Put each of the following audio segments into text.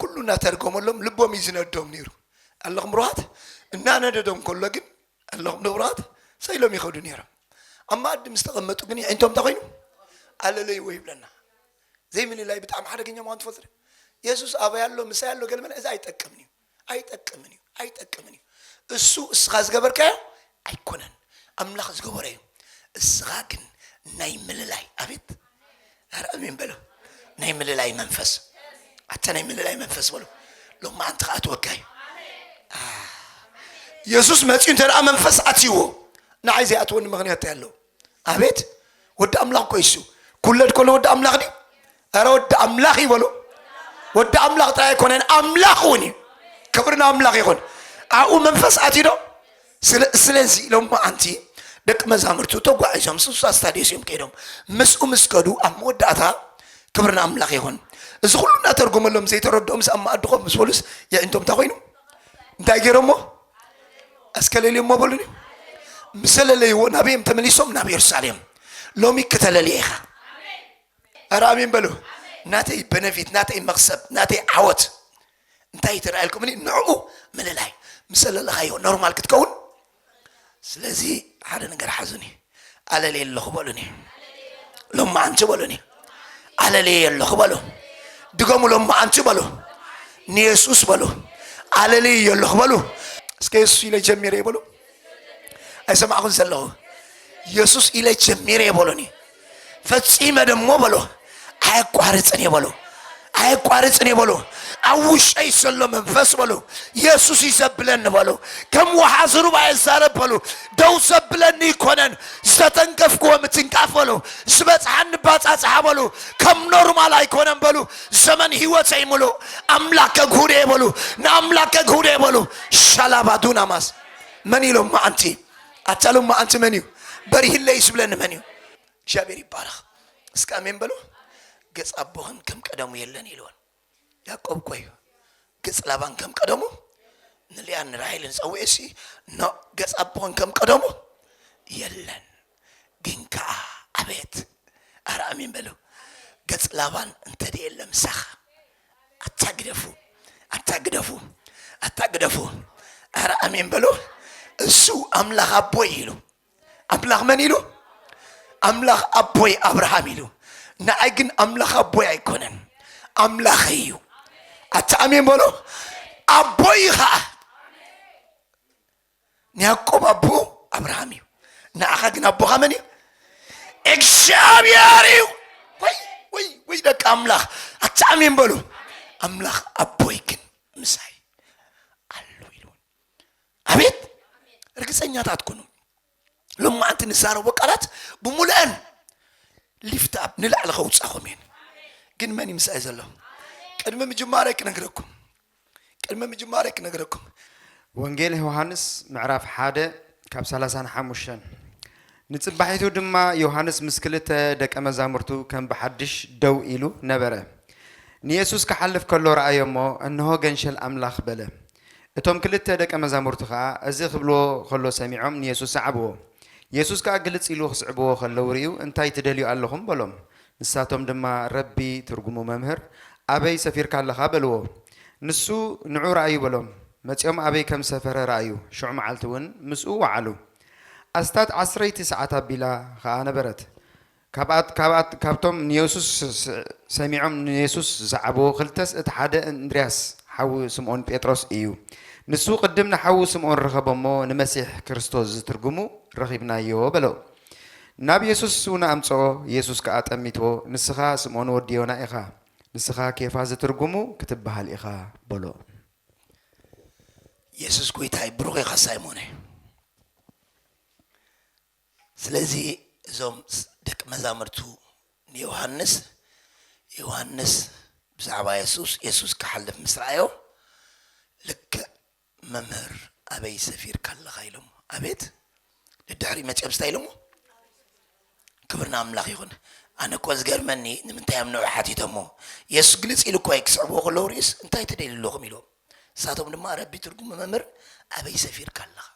ኩሉ እናተርጎመሎም ልቦም እዩ ዝነዶም ነይሩ። ኣለኹም ንብሩሃት እናነደዶም ከሎ ግን ኣለኹም ንብሩሃት ሰ ኢሎም ይኸዱ ነይሮም። ኣብ መኣዲ ምስ ተቐመጡ ግን የዒንቶም እንታይ ኮይኑ ኣለለይዎ ይብለና። ዘይምልላይ ብጣዕሚ ሓደገኛ ምዃኑ ትፈልጡ ዶ? የሱስ ኣበይ ኣሎ ምሳይ ኣሎ ገለ መለ እዚ ኣይጠቅምን እዩ። ኣይጠቅምን እዩ ኣይጠቅምን እዩ እሱ እስኻ ዝገበርካዮ ኣይኮነን ኣምላኽ ዝገበሮ እዩ እስኻ ግን ናይ ምልላይ ኣቤት ኧረ ኣሜን በሉ ናይ ምልላይ መንፈስ ኣታ ናይ ምልላይ መንፈስ በሉ ሎማ ኣንቲ ከዓ ትወጋዩ የሱስ መፅኡ እንተ ደኣ መንፈስ ኣትይዎ ንዓይ ዘይኣትወኒ ምክንያት እንታይ ኣለዎ ኣቤት ወዲ ኣምላኽ እኮ እሱ ኩለድ ኮሎ ወዲ ኣምላኽ ድዩ ኧረ ወዲ ኣምላኽ እዩ በሉ ወዲ ኣምላኽ ጥራይ ኣይኮነን ኣምላኽ እውን እዩ ክብሪ ንኣምላኽ ይኹን ኣብኡ መንፈስ ኣትዩ ዶ ስለዚ ኢሎም ኣንቲ ደቂ መዛሙርቱ ተጓዒዞም ስሳ ስታዲዮስ እዮም ከይዶም ምስኡ ምስ ከዱ ኣብ መወዳእታ ክብሪ ንኣምላኽ ይኹን እዚ ኩሉ እናተርጎመሎም ዘይተረድኦም ኣብ መኣዲ ኮፍ ምስ በሉስ የዒንቶም እንታይ ኮይኑ እንታይ ገይሮሞ እስከ ለልዮ እሞ በሉኒ ምስ ለለይዎ ናበዮም ተመሊሶም ናብ የሩሳሌም ሎሚ ክተለልየ ኢኻ ኧረ ኣሜን በሉ ናተይ በነፊት ናተይ መክሰብ ናተይ ዓወት እንታይ እዩ ተረኣየልኩም እኒ ንዕኡ ምልላይ ምስ ለለኻዮ ኖርማል ክትከውን ስለዚ ሓደ ነገር ሓዙኒ ኣለልየ ኣለኹ በሉኒ ሎማዓንቲ በሉኒ ኣለልየ ኣለኹ በሉ ድገሙ ሎማዓንቲ በሉ ንየሱስ በሉ ኣለልየ ኣለኹ በሉ እስከ የሱስ ኢለ ጀሚረ በሉ ኣይሰማዕኹን ዘለኹ የሱስ ኢለ ጀሚረ በሉኒ ፈጺመ ደሞ በሉ ኣየቋርፅን እየ በሉ ኣየቋርፅን እየ በሉ ኣብ ውሽጠይ ዘሎ መንፈስ በሉ የሱስ እዩ ዘብለኒ በሉ ከም ወሓዚ ሩባ እየ ዛረብ በሉ ደው ዘብለኒ ይኮነን ዝተተንከፍክዎ ምትንካፍ በሉ ዝበፅሓኒ ባፃፅሓ በሉ ከም ኖርማል ኣይኮነን በሉ ዘመን ህይወተይ ምሉእ ኣምላክ ከግሁደ እየ በሉ ንኣምላክ ከግሁደ እየ በሉ ሻላባዱናማስ መን ኢሎም መዓንቲ ኣታሎም መዓንቲ መን እዩ በሪህለይ ዝብለኒ መን እዩ እግዚኣብሔር ይባረኽ እስከ ኣሜን በሉ ገጽ ኣቦኽን ከም ቀደሙ የለን ኢልወን ያዕቆብ እኮ እዩ ገጽ ላባን ከም ቀደሙ ንልያን ንራሄልን ጸውኤ ሲ ኖ ገጽ ኣቦኽን ከም ቀደሙ የለን ግን ከዓ ኣቤት ኣረ ኣሜን በሉ ገጽ ላባን እንተደ የለ ምሳኻ ኣታ ግደፉ ኣታ ግደፉ ኣታ ግደፉ ኣረ ኣሜን በሉ እሱ ኣምላኽ ኣቦይ ኢሉ ኣምላኽ መን ኢሉ ኣምላኽ ኣቦይ ኣብርሃም ኢሉ ንኣይ ግን ኣምላኽ ኣቦይ ኣይኮነን ኣምላኽ እዩ ኣቲ ኣሜን በሎ ኣቦይ ከዓ ንያዕቆብ ኣቦ ኣብርሃም እዩ ንዓኻ ግን ኣቦኻ መን እዩ እግዚኣብሔር እዩ ወይ ወይ ወይ ደቂ ኣምላኽ ኣቲ ኣሜን በሉ ኣምላኽ ኣቦይ ግን ምሳይ ኣሉ ኢሉውን ኣቤት ርግፀኛታት ኩኑ ሎማዓንቲ ንዛረቦ ቃላት ብሙሉአን ሊፍት ኣብ ንላዕሊ ከውፃኹም እየን ግን መን እዩ ምስኣይ ዘሎ ቅድሚ ምጅማረ ክነግረኩም ቅድሚ ምጅማረ ክነግረኩም ወንጌል ዮሃንስ ምዕራፍ ሓደ ካብ ሰላሳን ሓሙሽተን ንፅባሒቱ ድማ ዮሃንስ ምስ ክልተ ደቀ መዛሙርቱ ከም ብሓድሽ ደው ኢሉ ነበረ ንየሱስ ክሓልፍ ከሎ ረኣዮ እሞ እንሆ ገንሸል ኣምላኽ በለ እቶም ክልተ ደቀ መዛሙርቲ ኸኣ እዚ ኽብልዎ ኸሎ ሰሚዖም ንየሱስ ሰዓብዎ። የሱስ ከኣ ግልጽ ኢሉ ኽስዕብዎ ኸለዉ ርእዩ እንታይ ትደልዩ ኣሎኹም? በሎም። ንሳቶም ድማ ረቢ፣ ትርጉሙ መምህር፣ ኣበይ ሰፊርካ ኣለኻ? በልዎ። ንሱ ንዑ ርኣዩ በሎም። መጺኦም ኣበይ ከም ዝሰፈረ ረኣዩ፣ ሽዑ መዓልቲ እውን ምስኡ ወዓሉ። ኣስታት ዓስረይቲ ሰዓት ኣቢላ ኸኣ ነበረት። ካብኣት ካብኣት ካብቶም ንየሱስ ሰሚዖም ንየሱስ ዝሰዓቡ ክልተስ እቲ ሓደ እንድርያስ ሓው ስምኦን ጴጥሮስ እዩ። ንሱ ቅድም ንሓዉ ስምኦን ረኸቦ እሞ ንመሲሕ ክርስቶስ ዝትርጉሙ ረኺብናዮ በሎ። ናብ የሱስ እውን ኣምጽኦ የሱስ ከኣ ጠሚትዎ ንስኻ ስምኦን ወዲ ዮና ኢኻ ንስኻ ኬፋ ዝትርጉሙ ክትበሃል ኢኻ በሎ። የሱስ ጎይታይ ብሩኽ ኢኻ ሳይሞነ። ስለዚ እዞም ደቂ መዛሙርቱ ንዮሃንስ፣ ዮሃንስ ብዛዕባ የሱስ፣ የሱስ ክሓልፍ ምስ ረኣዮ፣ ልክዕ መምህር ኣበይ ሰፊርካ ኣለኻ ኢሎሞ። ኣቤት ደድሕሪ መጺኦም ስታይ ኢሎሞ? ክብር ንኣምላኽ ይኹን። ኣነ እኮ ዝገርመኒ ንምንታይ እዮም ንዑ ሓቲቶሞ? የሱስ ግልጽ ኢሉ እኮ እዩ ክስዕብዎ ከለዉ ርኢስ እንታይ ትደልዩ ኣለኹም ኢሎም። ንሳቶም ድማ ረቢ ትርጉሙ መምህር ኣበይ ሰፊርካ ኣለኻ?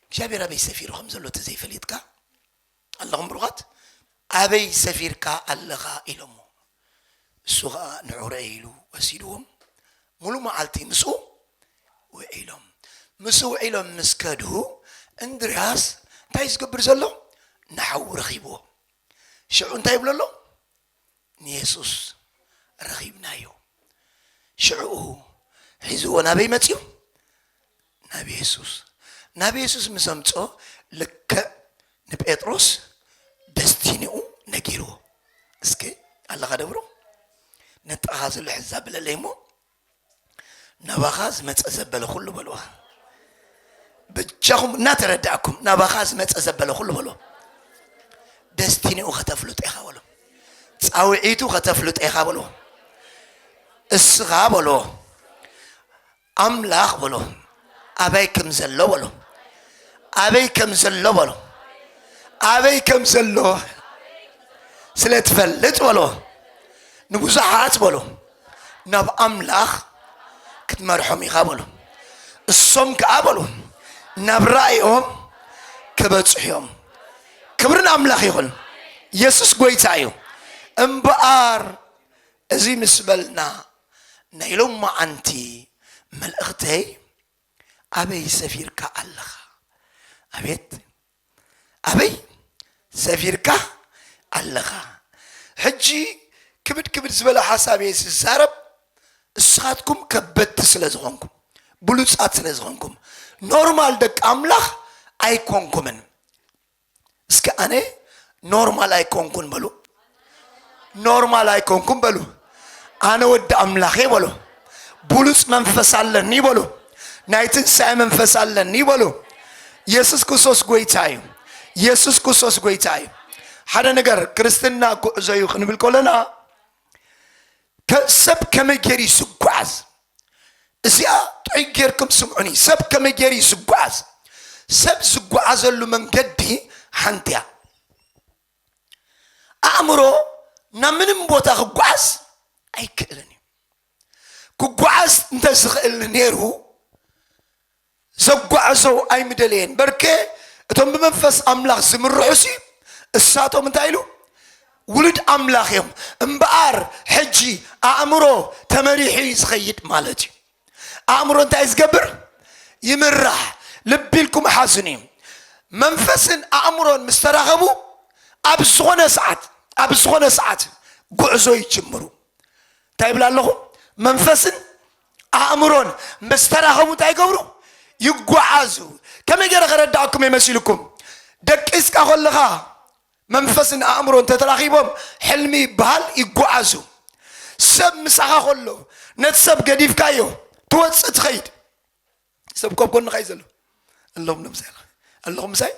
እግዚኣብሔር ኣበይ ሰፊሩ ከም ዘሎ ተዘይፈሊጥካ ኣለኹም ብሩኻት ኣበይ ሰፊርካ ኣለኻ ኢሎሞ እሱ ኸዓ ንዑ ረእይ ኢሉ ወሲድዎም ሙሉ መዓልቲ ምስኡ ውዒሎም ምስ ውዒሎም ምስ ከዱ እንድርያስ እንታይ ዝገብር ዘሎ ንሓዉ ረኺብዎ ሽዑ እንታይ ይብሎ ኣሎ ንየሱስ ረኺብናዮ። ሽዕኡ ሒዝዎ ናበይ መጺኡ? ናብ የሱስ። ናብ የሱስ ምስ ኣምጽኦ ልክዕ ንጴጥሮስ ደስቲኒኡ ነጊርዎ። እስከ ኣለኻ ደብሮ ነጥራኻ ዘሎ ሕዛ ብለለይ እሞ ናባኻ ዝመጸ ዘበለ ኩሉ በልዋ ብጃኹም እናተረዳእኩም ናባኻ ዝመጸ ዘበለ ኩሉ በልዎ ደስቲኒኡ ከተፍልጥ ኢኻ በሎ ፃውዒቱ ከተፍልጥ ኢኻ በሎ እስኻ በሎ ኣምላኽ በሎ ኣበይ ከም ዘሎ በሎ ኣበይ ከም ዘሎ በሎ ኣበይ ከም ዘሎ ስለ ትፈልጥ በሎ ንብዙሓት በሎ ናብ ኣምላኽ ክትመርሖም ኢኻ በሎ እሶም ከዓ በሎ ናብ ራእዮም ክበፅሑ እዮም ክብርን ኣምላኽ ይኹን ኢየሱስ ጎይታ እዩ እምበኣር እዚ ምስ በልና ናይ ሎማዓንቲ መልእኽተይ ኣበይ ሰፊርካ ኣለኻ ኣቤት ኣበይ ሰፊርካ ኣለኻ ሕጂ ክብድ ክብድ ዝበለ ሓሳብ እየ ዝዛረብ እስኻትኩም ከበድቲ ስለ ዝኾንኩም ብሉጻት ስለ ዝኾንኩም ኖርማል ደቂ ኣምላኽ ኣይኮንኩምን እስከ ኣነ ኖርማል ኣይኮንኩን በሉ ኖርማል ኣይኮንኩን በሉ ኣነ ወዲ ኣምላኽ እየ በሉ ብሉፅ መንፈስ ኣለኒ በሉ ናይ ትንሣኤ መንፈስ ኣለኒ በሉ ኢየሱስ ክርስቶስ ጎይታ እዩ ኢየሱስ ክርስቶስ ጎይታ እዩ ሓደ ነገር ክርስትና ጉዕዞ እዩ ክንብል ከለና ከ- ሰብ ከመይ ገይሩ እዩ ዝጓዓዝ እዚኣ ጥዑይ ጌርኩም ስምዑኒ ሰብ ከመይ ጌሩ እዩ ዝጓዓዝ ሰብ ዝጓዓዘሉ መንገዲ ሓንቲ እያ ኣእምሮ ናብ ምንም ቦታ ክጓዓዝ ኣይክእልን እዩ ክጓዓዝ እንተዝኽእል ነይሩ ዘጓዕዞ ኣይምደለየን በርከ እቶም ብመንፈስ ኣምላኽ ዝምርሑ ሲ እሳቶም እንታይ ኢሉ ውሉድ ኣምላኽ እዮም እምበኣር ሕጂ ኣእምሮ ተመሪሑ እዩ ዝኸይድ ማለት እዩ ኣእምሮ እንታይ ዝገብር ይምራሕ ልቢ ኢልኩም ሓዝኒ እዩ መንፈስን ኣእምሮን ምስ ተራኸቡ ኣብ ዝኾነ ሰዓት ኣብ ዝኾነ ሰዓት ጉዕዞ ይጅምሩ እንታይ ይብላ ኣለኹ መንፈስን ኣእምሮን ምስ ተራኸቡ እንታይ ይገብሩ? ይጓዓዙ። ከመይ ገይረ ከረዳኣኩም እየ መሲልኩም? ደቂስካ ከለኻ መንፈስን ኣእምሮን ተተራኺቦም ሕልሚ ይበሃል ይጓዓዙ። ሰብ ምሳኻ ከሎ ነቲ ሰብ ገዲፍካዮ ትወፅእ ትኸይድ። ሰብ እኮ ኣብ ጎንኻ እዩ ዘሎ ኣለኹም ዶ ምሳይ ኣለኹም ምሳይ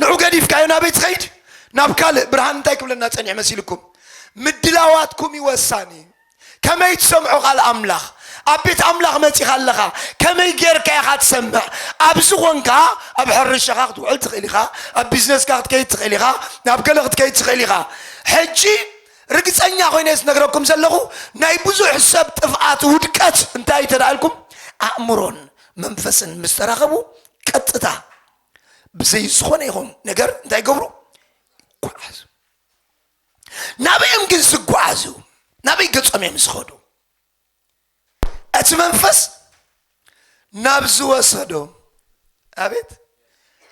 ንዑ ገዲፍካዮ ናበይ ትኸይድ ናብ ካልእ ብርሃን እንታይ ክብለና ጸኒሑ መሲልኩም ምድላዋትኩም እዩ ወሳኒ ከመይ ትሰምዖ ቃል ኣምላኽ ኣብ ቤት ኣምላኽ መጺኻ ኣለኻ ከመይ ጌርካ ኢኻ ትሰምዕ ኣብ ዝኾንካ ኣብ ሕርሻኻ ክትውዕል ትኽእል ኢኻ ኣብ ቢዝነስካ ክትከይድ ትኽእል ኢኻ ናብ ገለ ክትከይድ ትኽእል ኢኻ ሕጂ ርግጸኛ ኮይነ ዝነግረኩም ዘለኹ ናይ ብዙሕ ሰብ ጥፍኣት ውድቀት እንታይ እንተ ኢልኩም ኣእምሮን መንፈስን ምስ ተራኸቡ ቀጥታ ብዘይ ዝኾነ ይኹን ነገር እንታይ ይገብሩ ይጓዓዙ ናበይ እዮም ግን ዝጓዓዙ ናበይ ገጾም እዮም ዝኸዱ እቲ መንፈስ ናብ ዝወሰዶ ኣቤት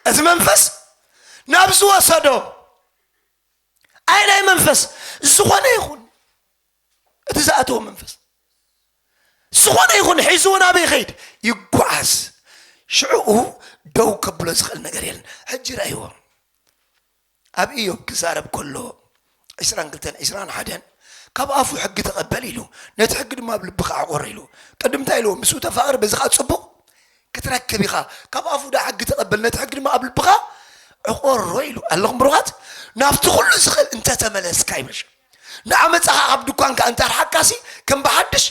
እቲ መንፈስ ናብ ዝወሰዶ ኣይ ናይ መንፈስ ዝኾነ ይኹን እቲ ዝኣተወ መንፈስ ዝኾነ ይኹን ሒዝዎ ናበይ ይኸይድ ይጓዓዝ ሽዑኡ ደው ከብሎ ዝኽእል ነገር የለን ሕጂ ርእይዎ ኣብ እዮብ ክዛረብ ከሎ ዕስራን ክልተን ዕስራን ሓደን ካብ ኣፉ ሕጊ ተቐበል ኢሉ ነቲ ሕጊ ድማ ኣብ ልብኻ ኣዕቆር ኢሉ ቅድምታ ኢልዎ ምስኡ ተፋቕር በዚ ከዓ ፅቡቕ ክትረክብ ኢኻ ካብ ኣፉ ዳኣ ሕጊ ተቀበል ነቲ ሕጊ ድማ ኣብ ልብኻ ዕቆሮ ኢሉ ኣለኹም ብሩኻት ናብቲ ኩሉ ዝኽእል እንተ ተመለስካ ይበሻ ንዓመጻኻ ካብ ድኳንካ እንተ ኣርሓካሲ ከም ብሓድሽ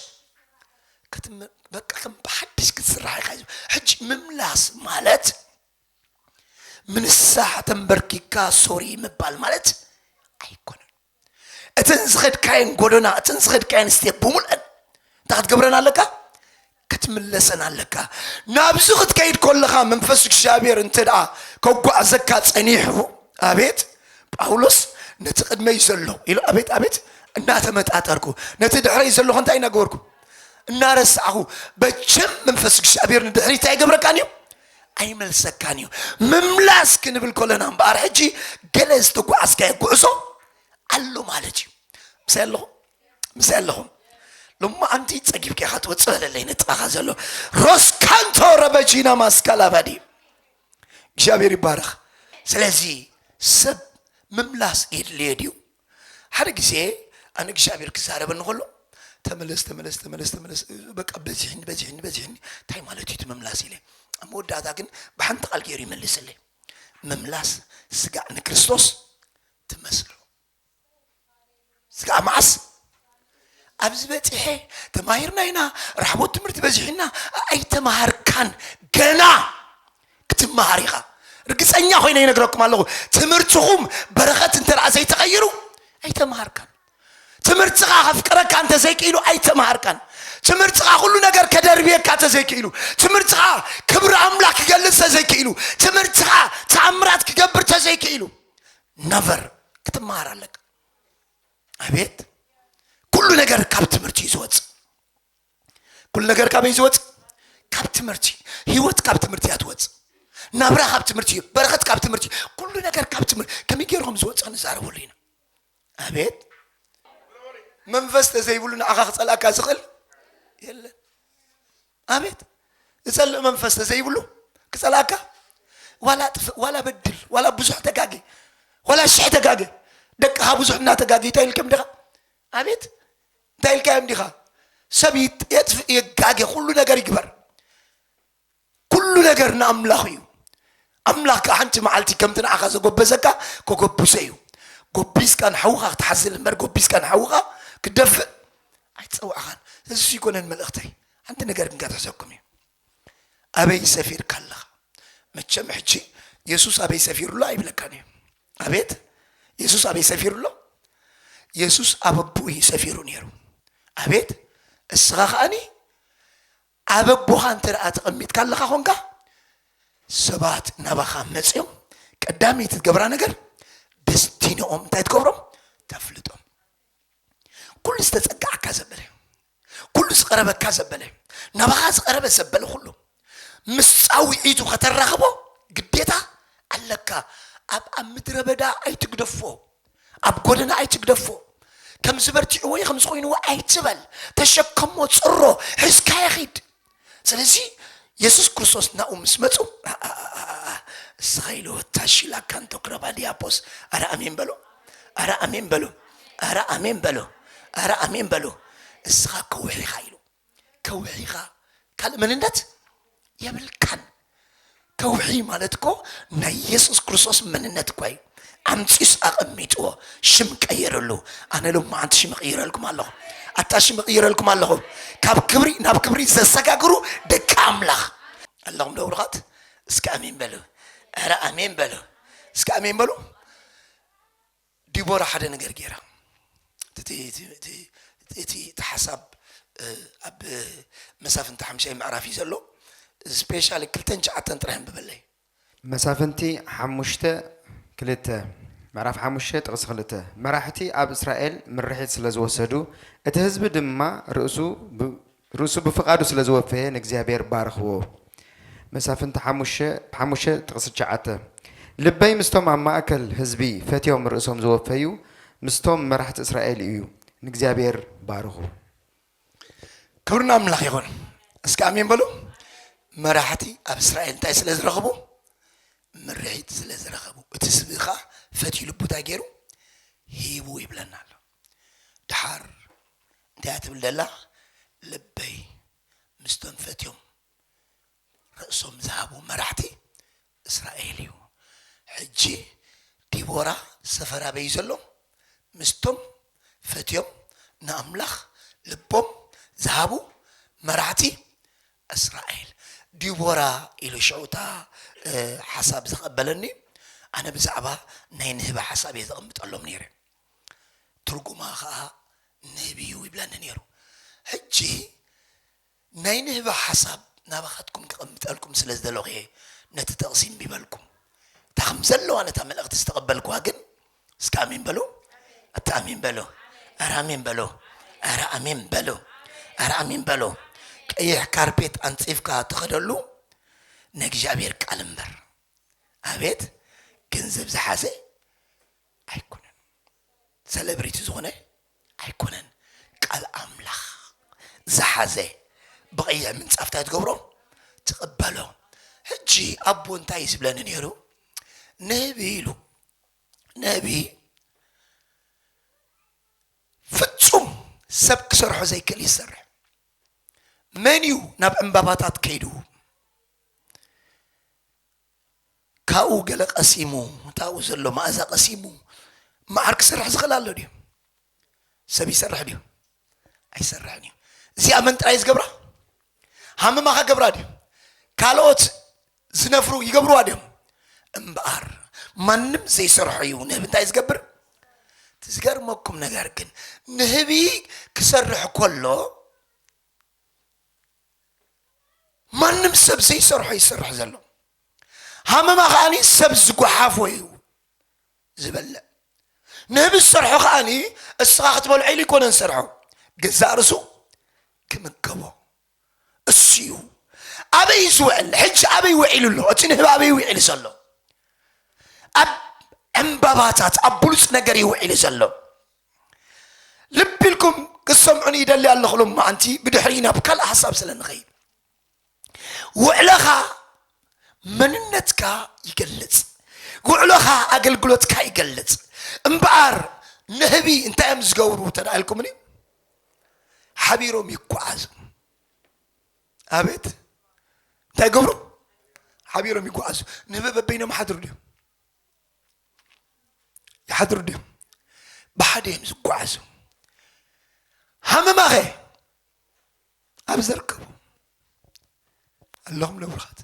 ክትም በቃ ከም ብሓድሽ ክትስራሕ ኢኻ ሕጂ ምምላስ ማለት ምንሳሕ ተንበርኪካ ሶሪ ምባል ማለት ኣይኮነን እተን ዝኸድካየን ጎደና እተን ዝኸድካየን ስቴፕ ብምልአን እንታይ ክትገብረን ኣለካ ክትምለሰን ኣለካ ናብዚ ክትከይድ ከለኻ መንፈስ እግዚኣብሔር እንተ ደኣ ከጓዕዘካ ጸኒሑ ኣቤት ጳውሎስ ነቲ ቅድመይ ዘሎ ኢሉ ኣቤት ኣቤት እናተመጣጠርኩ ነቲ ድሕረይ ዘለኹ እንታይ እናገበርኩ እናረሳዕኹ በቸም መንፈስ እግዚኣብሔር ንድሕሪ እንታይ ይገብረካን እዩ ኣይመልሰካን እዩ ምምላስ ክንብል ከለና እምበኣር ሕጂ ገለ ዝተጓዓዝካዮ ጉዕዞ ኣሎ ማለት እዩ ምሳይ ኣለኹም ምሳይ ኣለኹም ሎማ ኣንቲ ፀጊብካ ኢኻ ትወፅእ በለለይ ንጥቓኻ ዘሎ ሮስካንቶ ረበጂና ማስካላባዲ እግዚኣብሔር ይባረኽ ስለዚ ሰብ ምምላስ የድልዮ ድዩ ሓደ ግዜ ኣነ እግዚኣብሔር ክዛረበኒ ከሎ ተመለስ ተመለስ ተመለስ ተመለስ በቃ በዚሕኒ በዚሕኒ በዚሕኒ እንታይ ማለት እዩ እቲ ምምላስ ኢለ ኣብ መወዳእታ ግን ብሓንቲ ቃል ገይሩ ይመልስለይ ምምላስ ስጋዕ ንክርስቶስ ትመስሎ ስጋዕ መዓስ ኣብዚ በጺሐ ተማሂርና ኢና ራሕቦት ትምህርቲ በዚሑና ኣይተማሃርካን ገና ክትመሃር ኢኻ ርግፀኛ ኮይነ ይነግረኩም ኣለኹ ትምህርትኹም በረኸት እንተ ዘይተቐይሩ ኣይተመሃርካን ትምህርትኻ ከፍቅረካ እንተ ዘይክኢሉ ኣይተመሃርካን ትምህርትኻ ኩሉ ነገር ከደርብየካ ተዘይክኢሉ ትምህርትኻ ክብሪ ኣምላኽ ክገልፅ ተዘይክኢሉ ትምህርትኻ ተኣምራት ክገብር ተዘይክኢሉ ነቨር ክትመሃር ኣለካ ኣቤት ኩሉ ነገር ካብ ትምህርቲ እዩ ዝወፅ ኩሉ ነገር ካበይ ዝወፅ ካብ ትምህርቲ ህይወት ካብ ትምህርቲ እያ ትወፅ ናብራ ካብ ትምህርቲ እዩ በረኸት ካብ ትምህርቲ እዩ ኩሉ ነገር ካብ ትምህርቲ ከመይ ገይርኩም ዝወፅ ንዛረበሉ ኢና ኣቤት መንፈስ ተዘይብሉ ንዓኻ ክፀልኣካ ዝኽእል የለን ኣቤት ዝጸልእ መንፈስ ተዘይብሉ ክጸልኣካ ዋላ ጥፍእ ዋላ በድል ዋላ ብዙሕ ተጋጊ ዋላ ሽሕ ተጋገ ደቅኻ ብዙሕ እናተጋገ እንታይ ኢልከም ድኻ ኣቤት እንታይ ኢልካዮም ዲኻ ሰብ የጥፍእ የጋገ ኩሉ ነገር ይግበር ኩሉ ነገር ንኣምላኽ እዩ ኣምላኽ ከኣ ሓንቲ መዓልቲ ከምቲ ንዓኻ ዘጐበዘካ ከጐብዞ እዩ። ጐቢዝካ ንሓውኻ ክትሓዝል እምበር ጐቢዝካ ንሓውኻ ክትደፍእ ኣይተጸዋዕኻን። ስለዚ እሱ ኣይኮነን መልእኽተይ። ሓንቲ ነገር ግን ከትሕዘኩም እዩ። ኣበይ ሰፊርካ ኣለኻ? መቸም ሕጂ የሱስ ኣበይ ሰፊሩ ኣሎ ኣይብለካን እዩ። ኣቤት የሱስ ኣበይ ሰፊሩ ኣሎ? የሱስ ኣብ ኣቦኡ እዩ ሰፊሩ ነይሩ። ኣቤት እስኻ ከኣኒ ኣብ ኣቦኻ እንተደኣ ተቐሚጥካ ኣለኻ ኾንካ፣ ሰባት ናባኻ መጺኦም ቀዳመይቲ ትገብራ ነገር ደስቲንኦም እንታይ ትገብሮም? ተፍልጦም። ኩሉ ዝተጸጋዓካ ዘበለ፣ ኩሉ ዝቐረበካ ዘበለ፣ ናባኻ ዝቐረበ ዘበለ ኩሉ ምስ ጻውዒቱ ከተራኽቦ ግዴታ ኣለካ። ኣብ ኣብ ምድረ በዳ ኣይትግደፎ። ኣብ ጎደና ኣይትግደፎ፣ ከምዚ በርቲዑዎ ወይ ከምዚ ኮይኑዎ ኣይትበል፣ ተሸከሞ፣ ጽሮ፣ ሕዝካዮ ኺድ። ስለዚ የሱስ ክርስቶስ ናብኡ ምስ መጹ ኣኣኣኣ እስኻ ኢሉ ታሺላ ካንቶ ክረባ ዲያፖስ ኣረ ኣሜን በሉ፣ ኣረ ኣሜን በሉ፣ ኣረ ኣሜን በሉ፣ ኣረ ኣሜን በሉ፣ እስኻ ከውሒኻ ኢሉ ከውሒ ኢኻ ካልእ መንነት የብልካን። ከውሒ ማለት እኮ ናይ የሱስ ክርስቶስ መንነት እኳ እዩ። ኣምጺኡስ ኣቐሚጥዎ ሽም ቀየረሉ። ኣነ ሎማዓንቲ ሽም እቕይረልኩም ኣለኹ። ኣታ ሽም እቕይረልኩም ኣለኹ። ካብ ክብሪ ናብ ክብሪ ዘሰጋግሩ ደቂ ኣምላኽ ኣለኹም ዶ ብሩኻት? እስከ ኣሜን በሉ። ኧረ ኣሜን በሉ። እስከ ኣሜን በሉ። ዲቦራ ሓደ ነገር ገይራ እቲ ሓሳብ ኣብ መሳፍንቲ ሓምሻይ ምዕራፍ እዩ ዘሎ ስፔሻሊ ክልተን ሸዓተን ጥራሕ ኣንብበለይ መሳፍንቲ ሓሙሽተ ክልተ ምዕራፍ ሓሙሽተ ጥቕሲ ክልተ መራሕቲ ኣብ እስራኤል ምርሒት ስለ ዝወሰዱ እቲ ህዝቢ ድማ ርእሱ ርእሱ ብፍቃዱ ስለ ዝወፈየ ንእግዚኣብሔር ባርኽዎ መሳፍንቲ ሓሙሽተ ሓሙሽተ ጥቅሲ ትሽዓተ ልበይ ምስቶም ኣብ ማእከል ህዝቢ ፈትዮም ርእሶም ዝወፈዩ ምስቶም መራሕቲ እስራኤል እዩ ንእግዚኣብሔር ባርኹ። ክብሪ ንኣምላኽ ይኹን እስከ ኣሜን በሉ። መራሕቲ ኣብ እስራኤል እንታይ ስለ ዝረኽቡ ምርሒት ስለ ዝረኸቡ እቲ ህዝቢ ኸኣ ፈትዩ ልቡ እንታይ ገይሩ ሂቡ ይብለና ኣሎ። ደሓር እንታይ እያ ትብል ዘላ ልበይ ምስቶም ፈትዮም ርእሶም ዝሃቡ መራሕቲ እስራኤል እዩ ሕጂ ዲቦራ ሰፈር ኣበይ እዩ ዘሎ ምስቶም ፈትዮም ንኣምላኽ ልቦም ዝሃቡ መራሕቲ እስራኤል ዲቦራ ኢሉ ሽዑ እታ ሓሳብ ዘቐበለኒ ኣነ ብዛዕባ ናይ ንህቢ ሓሳብ እየ ዘቐምጠሎም ነይረ ትርጉማ ከኣ ንህቢ እዩ ይብለኒ ኔሩ ሕጂ ናይ ንህቢ ሓሳብ ናባካትኩም ከቀምጠልኩም ስለ ዝደለኩ እየ ነቲ ጥቅሲ እምቢ በልኩም እታ ከም ዘለዋ ነታ መልእክቲ ዝተቀበልኩዋ ግን እስከ ኣሜን በሉ ኣታ ኣሜን በሉ ኣረ ኣሜን በሉ ኣረ ኣሜን በሉ ኣረ ኣሜን በሉ ቀይሕ ካርፔት ኣንጺፍካ ትኸደሉ ናይ እግዚኣብሔር ቃል እምበር ኣቤት ገንዘብ ዝሓዘ ኣይኮነን ሰለብሪቲ ዝኾነ ኣይኮነን ቃል ኣምላኽ ዝሓዘ ብቀይሕ ምንጻፍ እንታይ ትገብሮ ትቕበሎ ሕጂ ኣቦ እንታይ እዩ ዝብለኒ ነይሩ ነቢ ኢሉ ነቢ ፍጹም ሰብ ክሰርሖ ዘይክእል እዩ ዝሰርሕ መን እዩ ናብ ዕምባባታት ከይዱ ካብኡ ገለ ቀሲሙ እቲ ኣብኡ ዘሎ መኣዛ ቀሲሙ መዓር ክሰርሕ ዝኽእል ኣሎ ድዩ ሰብ ይሰርሕ ድዩ ኣይሰርሕን እዩ እዚኣ መን ጥራይ ዝገብራ ሃመማ ከገብራ ድዩ ካልኦት ዝነፍሩ ይገብርዋ ድዮም እምበኣር ማንም ዘይሰርሖ እዩ ንህቢ እንታይ ዝገብር እቲ ዝገርመኩም ነገር ግን ንህቢ ክሰርሕ ከሎ ማንም ሰብ ዘይሰርሖ ይሰርሕ ዘሎ ሃመማ ከዓኒ ሰብ ዝጓሓፎ እዩ ዝበልዕ ንህቢ ዝሰርሖ ከዓኒ እስኻ ክትበልዖ ኢሉ ይኮነ ዝሰርሖ ገዛእ ርሱ ክምገቦ እሱ እዩ ኣበይ ዝውዕል ሕጂ ኣበይ ውዒሉ ኣሎ እቲ ንህቢ ኣበይ ውዒሉ ዘሎ ኣብ ዕምባባታት ኣብ ብሉፅ ነገር ይውዒሉ ዘሎ ልቢ ኢልኩም ክሰምዑኒ ይደሊ ኣለኹ ሎማዓንቲ ብድሕሪ ናብ ካልእ ሓሳብ ስለ ንኸይድ ውዕለኻ መንነትካ ይገልጽ ውዕሎኻ ኣገልግሎትካ ይገልጽ እምበኣር ንህቢ እንታይ እዮም ዝገብሩ ተዳኢልኩምኒ ሓቢሮም ይጓዓዙ ኣቤት እንታይ ገብሩ ሓቢሮም ይጓዓዙ ንህቢ በበይኖም ሓድሩ ድዮም ይሓድሩ ድዮም ብሓደ እዮም ዝጓዓዙ ሃመማኸ ኣብ ዘርከቡ ኣለኹም ነብርኻት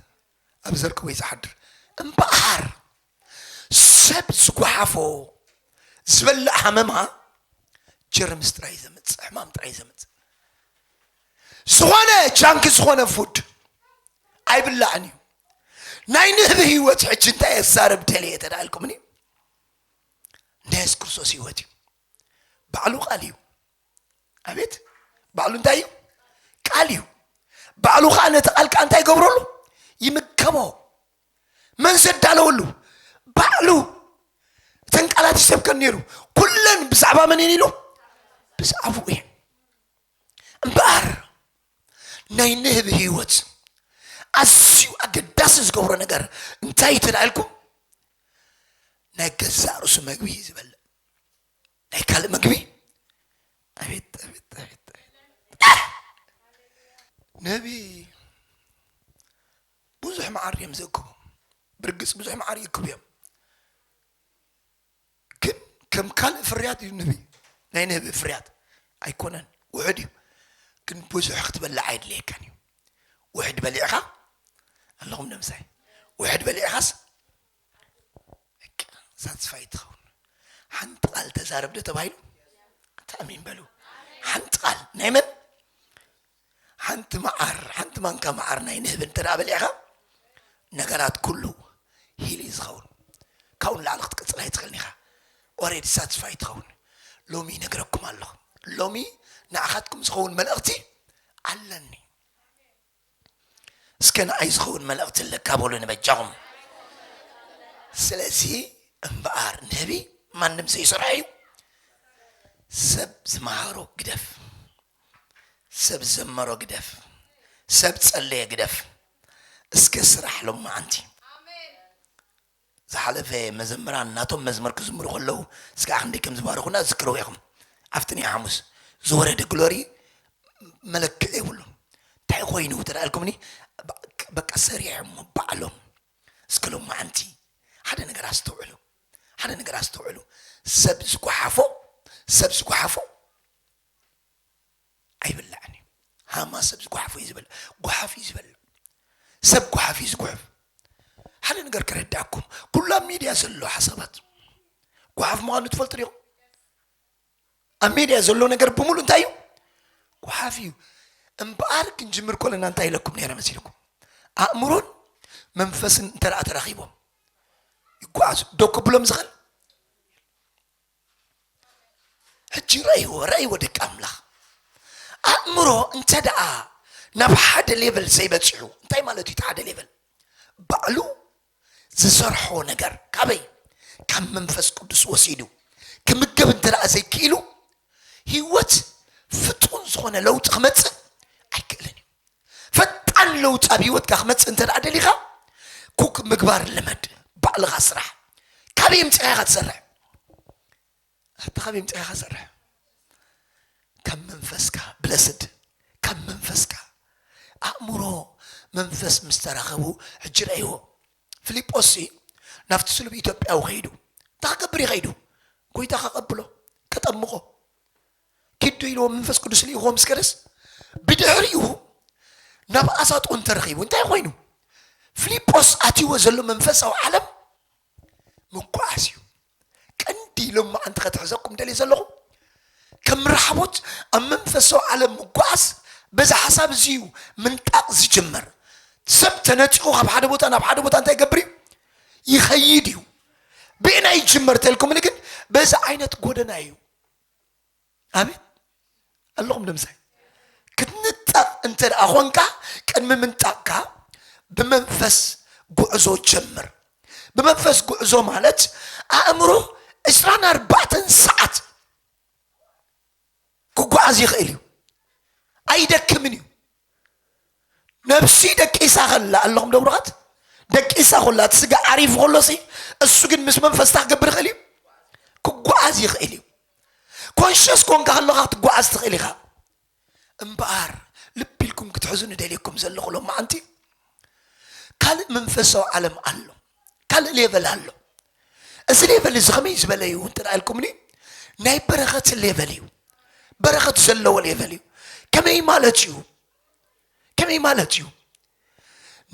ኣብ ዘርከቡ እዩ ዝሓድር እምበኣር ሰብ ዝጓሓፎ ዝበልዕ ሃመማ ጀርምስ ጥራይ ዘምፅእ ሕማም ጥራይ ዘምፅእ ዝኾነ ጃንኪ ዝኾነ ፉድ ኣይብላዕን እዩ ናይ ንህቢ ህይወት ሕጂ እንታይ ኣዛረብ ደልየ ተዳልኩምኒ ናይ የሱስ ክርስቶስ ህይወት እዩ ባዕሉ ቃል እዩ ኣቤት ባዕሉ እንታይ እዩ ቃል እዩ ባዕሉ ከዓ ነቲ ቃል ከዓ እንታይ ይገብረሉ ይምገቦ መን ዘዳለወሉ ባዕሉ እተን ቃላት ይሰብከን ነይሩ ኩለን ብዛዕባ መን እየን ኢሉ ብዛዕባኡ እየን እምበኣር ናይ ንህቢ ህይወት ኣዝዩ ኣገዳሲ ዝገብሮ ነገር እንታይ እዩ ተላኢልኩም ናይ ገዛእ ርእሱ መግቢ እዩ ዝበልዕ ናይ ካልእ መግቢ ኣቤት ኣቤት ኣቤት ንህቢ ብዙሕ መዓር እዮም ዘክቡ ብርግፅ ብዙሕ መዓር ይክቡ እዮም ግን ከም ካልእ ፍርያት እዩ ንህቢ ናይ ንህቢ ፍርያት ኣይኮነን ውሑድ እዩ ግን ብዙሕ ክትበልዕ ኣይድለየካን እዩ ውሕድ በሊዕኻ ኣለኹም ደምሳይ ውሕድ በሊዕኻስ ሳትስፋይ ትኸውን ሓንቲ ቃል ተዛረብ ዶ ተባሂሉ ተኣሚን በሉ ሓንቲ ቃል ናይ መን ሓንቲ መዓር ሓንቲ ማንካ መዓር ናይ ንህቢ እንተ በሊዕኻ ነገራት ኩሉ ሂል እዩ ዝኸውን ካብኡ ንላዕሊ ክትቅፅል ኣይትኽእልን ኢኻ ኦሬዲ ሳትስፋይ ትኸውን ሎሚ ይነግረኩም ኣለኹ ሎሚ ንዓኻትኩም ዝኸውን መልእኽቲ ኣለኒ እስከ ንኣይ ዝኸውን መልእኽቲ ኣለካ በሉ ንበጃኹም ስለዚ እምበኣር ንህቢ ማንም ዘይሰርሖ እዩ ሰብ ዝመሃሮ ግደፍ ሰብ ዘመሮ ግደፍ ሰብ ጸለየ ግደፍ እስከ ስራሕ ሎማዓንቲ ዝሓለፈ መዘምራን ናቶም መዝሙር ክዝምሩ ከለው እስከ ክንደይ ከም ዝባረኹና ዝክርዎ ኢኹም ኣብቲ ናይ ሓሙስ ዝወረደ ግሎሪ መለክዒ የብሉ እንታይ ኮይኑ ተዳልኩምኒ በቃ ሰሪሖም ባዕሎም እስከ ሎማዓንቲ ሓደ ነገር ኣስተውዕሉ ሓደ ነገር ኣስተውዕሉ ሰብ ዝጓሓፎ ሰብ ዝጓሓፎ ኣይብላዕን እዩ ሃማ ሰብ ዝጓሓፎ እዩ ዝበል ጓሓፍ እዩ ዝበል ሰብ ጓሓፍ እዩ ዝጉሕፍ ሓደ ነገር ክረዳኩም ኩሉ ኣብ ሚድያ ዘሎ ሓሳባት ጓሓፍ ምዃኑ ትፈልጡ ዲኹም ኣብ ሚድያ ዘሎ ነገር ብምሉእ እንታይ እዩ ጓሓፍ እዩ እምበኣር ክንጅምር ኮለና እንታይ ኢለኩም ነይረ መሲልኩም ኣእምሮን መንፈስን እንተ ተራኺቦም ይጓዓዙ ዶ ክብሎም ዝኽእል ሕጂ ረእይዎ ረእይዎ ደቂ ኣምላኽ ኣእምሮ እንተ ደኣ ናብ ሓደ ሌቨል ዘይበፂሑ እንታይ ማለት እዩ እቲ ሓደ ሌቨል ባዕሉ ዝሰርሖ ነገር ካበይ ካብ መንፈስ ቅዱስ ወሲዱ ክምገብ እንተ ደኣ ዘይክኢሉ ህይወት ፍጡን ዝኾነ ለውጢ ክመፅእ ኣይክእልን እዩ ፈጣን ለውጢ ኣብ ሂወትካ ክመጽእ እንተ ደኣ ደሊኻ ኩክ ምግባር ልመድ ባዕልኻ ስራሕ ካበይ ኣምጺኻ ኢኻ ትሰርሕ ኣታ ካበይ ኣምጺኻ ኢኻ ትሰርሕ ካብ መንፈስካ ብለስድ ካብ መንፈስካ ኣእምሮ መንፈስ ምስ ተራኸቡ ሕጂ ረእይዎ ፊልጶስ ናብቲ ስሉብ ኢትዮጵያዊ ከይዱ እንታይ ክገብር ይኸይዱ ጎይታ ከቐብሎ ከጠምቖ ኪዱ ኢልዎ መንፈስ ቅዱስ ልኢኹዎ ምስ ከደስ ብድሕሪኡ ናብ ኣሳጦ እንተረኺቡ እንታይ ኮይኑ ፊልጶስ ኣትይዎ ዘሎ መንፈሳዊ ዓለም ምጓዓዝ እዩ ቀንዲ ኢሎም መዓንቲ ከትሕዘኩም ደልየ ዘለኹ ከም ራሕቦት ኣብ መንፈሳዊ ዓለም ምጓዓዝ በዚ ሓሳብ እዚ እዩ ምንጣቕ ዝጅመር ሰብ ተነፂቑ ካብ ሓደ ቦታ ናብ ሓደ ቦታ እንታይ ይገብር እዩ ይኸይድ እዩ ብእና ይጅመር ተልኩምኒ ግን በዚ ዓይነት ጎደና እዩ ኣቤት ኣለኹም ደምሳይ ክትንጠቕ እንተ ደኣ ኾንካ ቅድሚ ምንጣቕካ ብመንፈስ ጉዕዞ ጀምር ብመንፈስ ጉዕዞ ማለት ኣእምሮ ዕስራን ኣርባዕተን ሰዓት ክጓዓዝ ይኽእል እዩ ኣይደክምን እዩ ነብሲ ደቂሳ ከላ ኣለኹም ደብሩኻት ደቂሳ ኮላ እቲ ስጋ ዓሪፉ ከሎ ሲ እሱ ግን ምስ መንፈስ እንታይ ክገብር ይኽእል እዩ ክጓዓዝ ይኽእል እዩ ኮንሸስ ኮንካ ከለኻ ክትጓዓዝ ትኽእል ኢኻ እምበኣር ልቢ ኢልኩም ክትሕዙ ንደልየኩም ዘለኹ ሎም መዓንቲ ካልእ መንፈሳዊ ዓለም ኣሎ ካልእ ሌቨል ኣሎ እዚ ሌቨል እዚ ከመይ ዝበለ እዩ እንተ ኢልኩምኒ ናይ በረኸት ሌቨል እዩ በረኸት ዘለዎ ሌቨል እዩ ከመይ ማለት እዩ ከመይ ማለት እዩ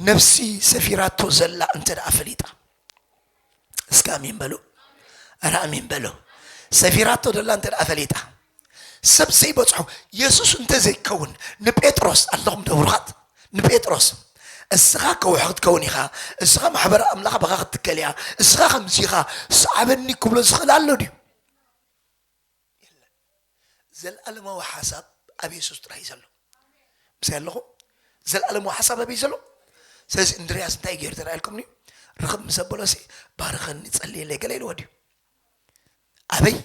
ነፍሲ ሰፊራቶ ዘላ እንተ ደኣ ፈሊጣ እስከ ኣሜን በሉ ኧረ ኣሜን በሉ ሰፊራቶ ዘላ እንተ ደኣ ፈሊጣ ሰብ ዘይበጽሖ የሱስ እንተ ዘይከውን ንጴጥሮስ ኣለኹም ደብሩኻት ንጴጥሮስ እስኻ ከውሒ ክትከውን ኢኻ እስኻ ማሕበረ ኣምላኽ በኻ ክትትከል እያ እስኻ ከምዚ ኢኻ ሰዓበኒ ክብሎ ዝኽእል ኣሎ ድዩ ዘለኣለማዊ ሓሳብ ኣብ የሱስ ጥራይ እዩ ዘሎ ምስይ ኣለኹም ዘለኣለማዊ ሓሳብ ኣበይ ዘሎ ስለዚ እንድርያስ እንታይ ገይሩ ተረኣልኩም ድዩ ርኽብ ምስ ኣበሎሲ ባርኸኒ ጸልየለይ ገለ ኢልዎ ድዩ ኣበይ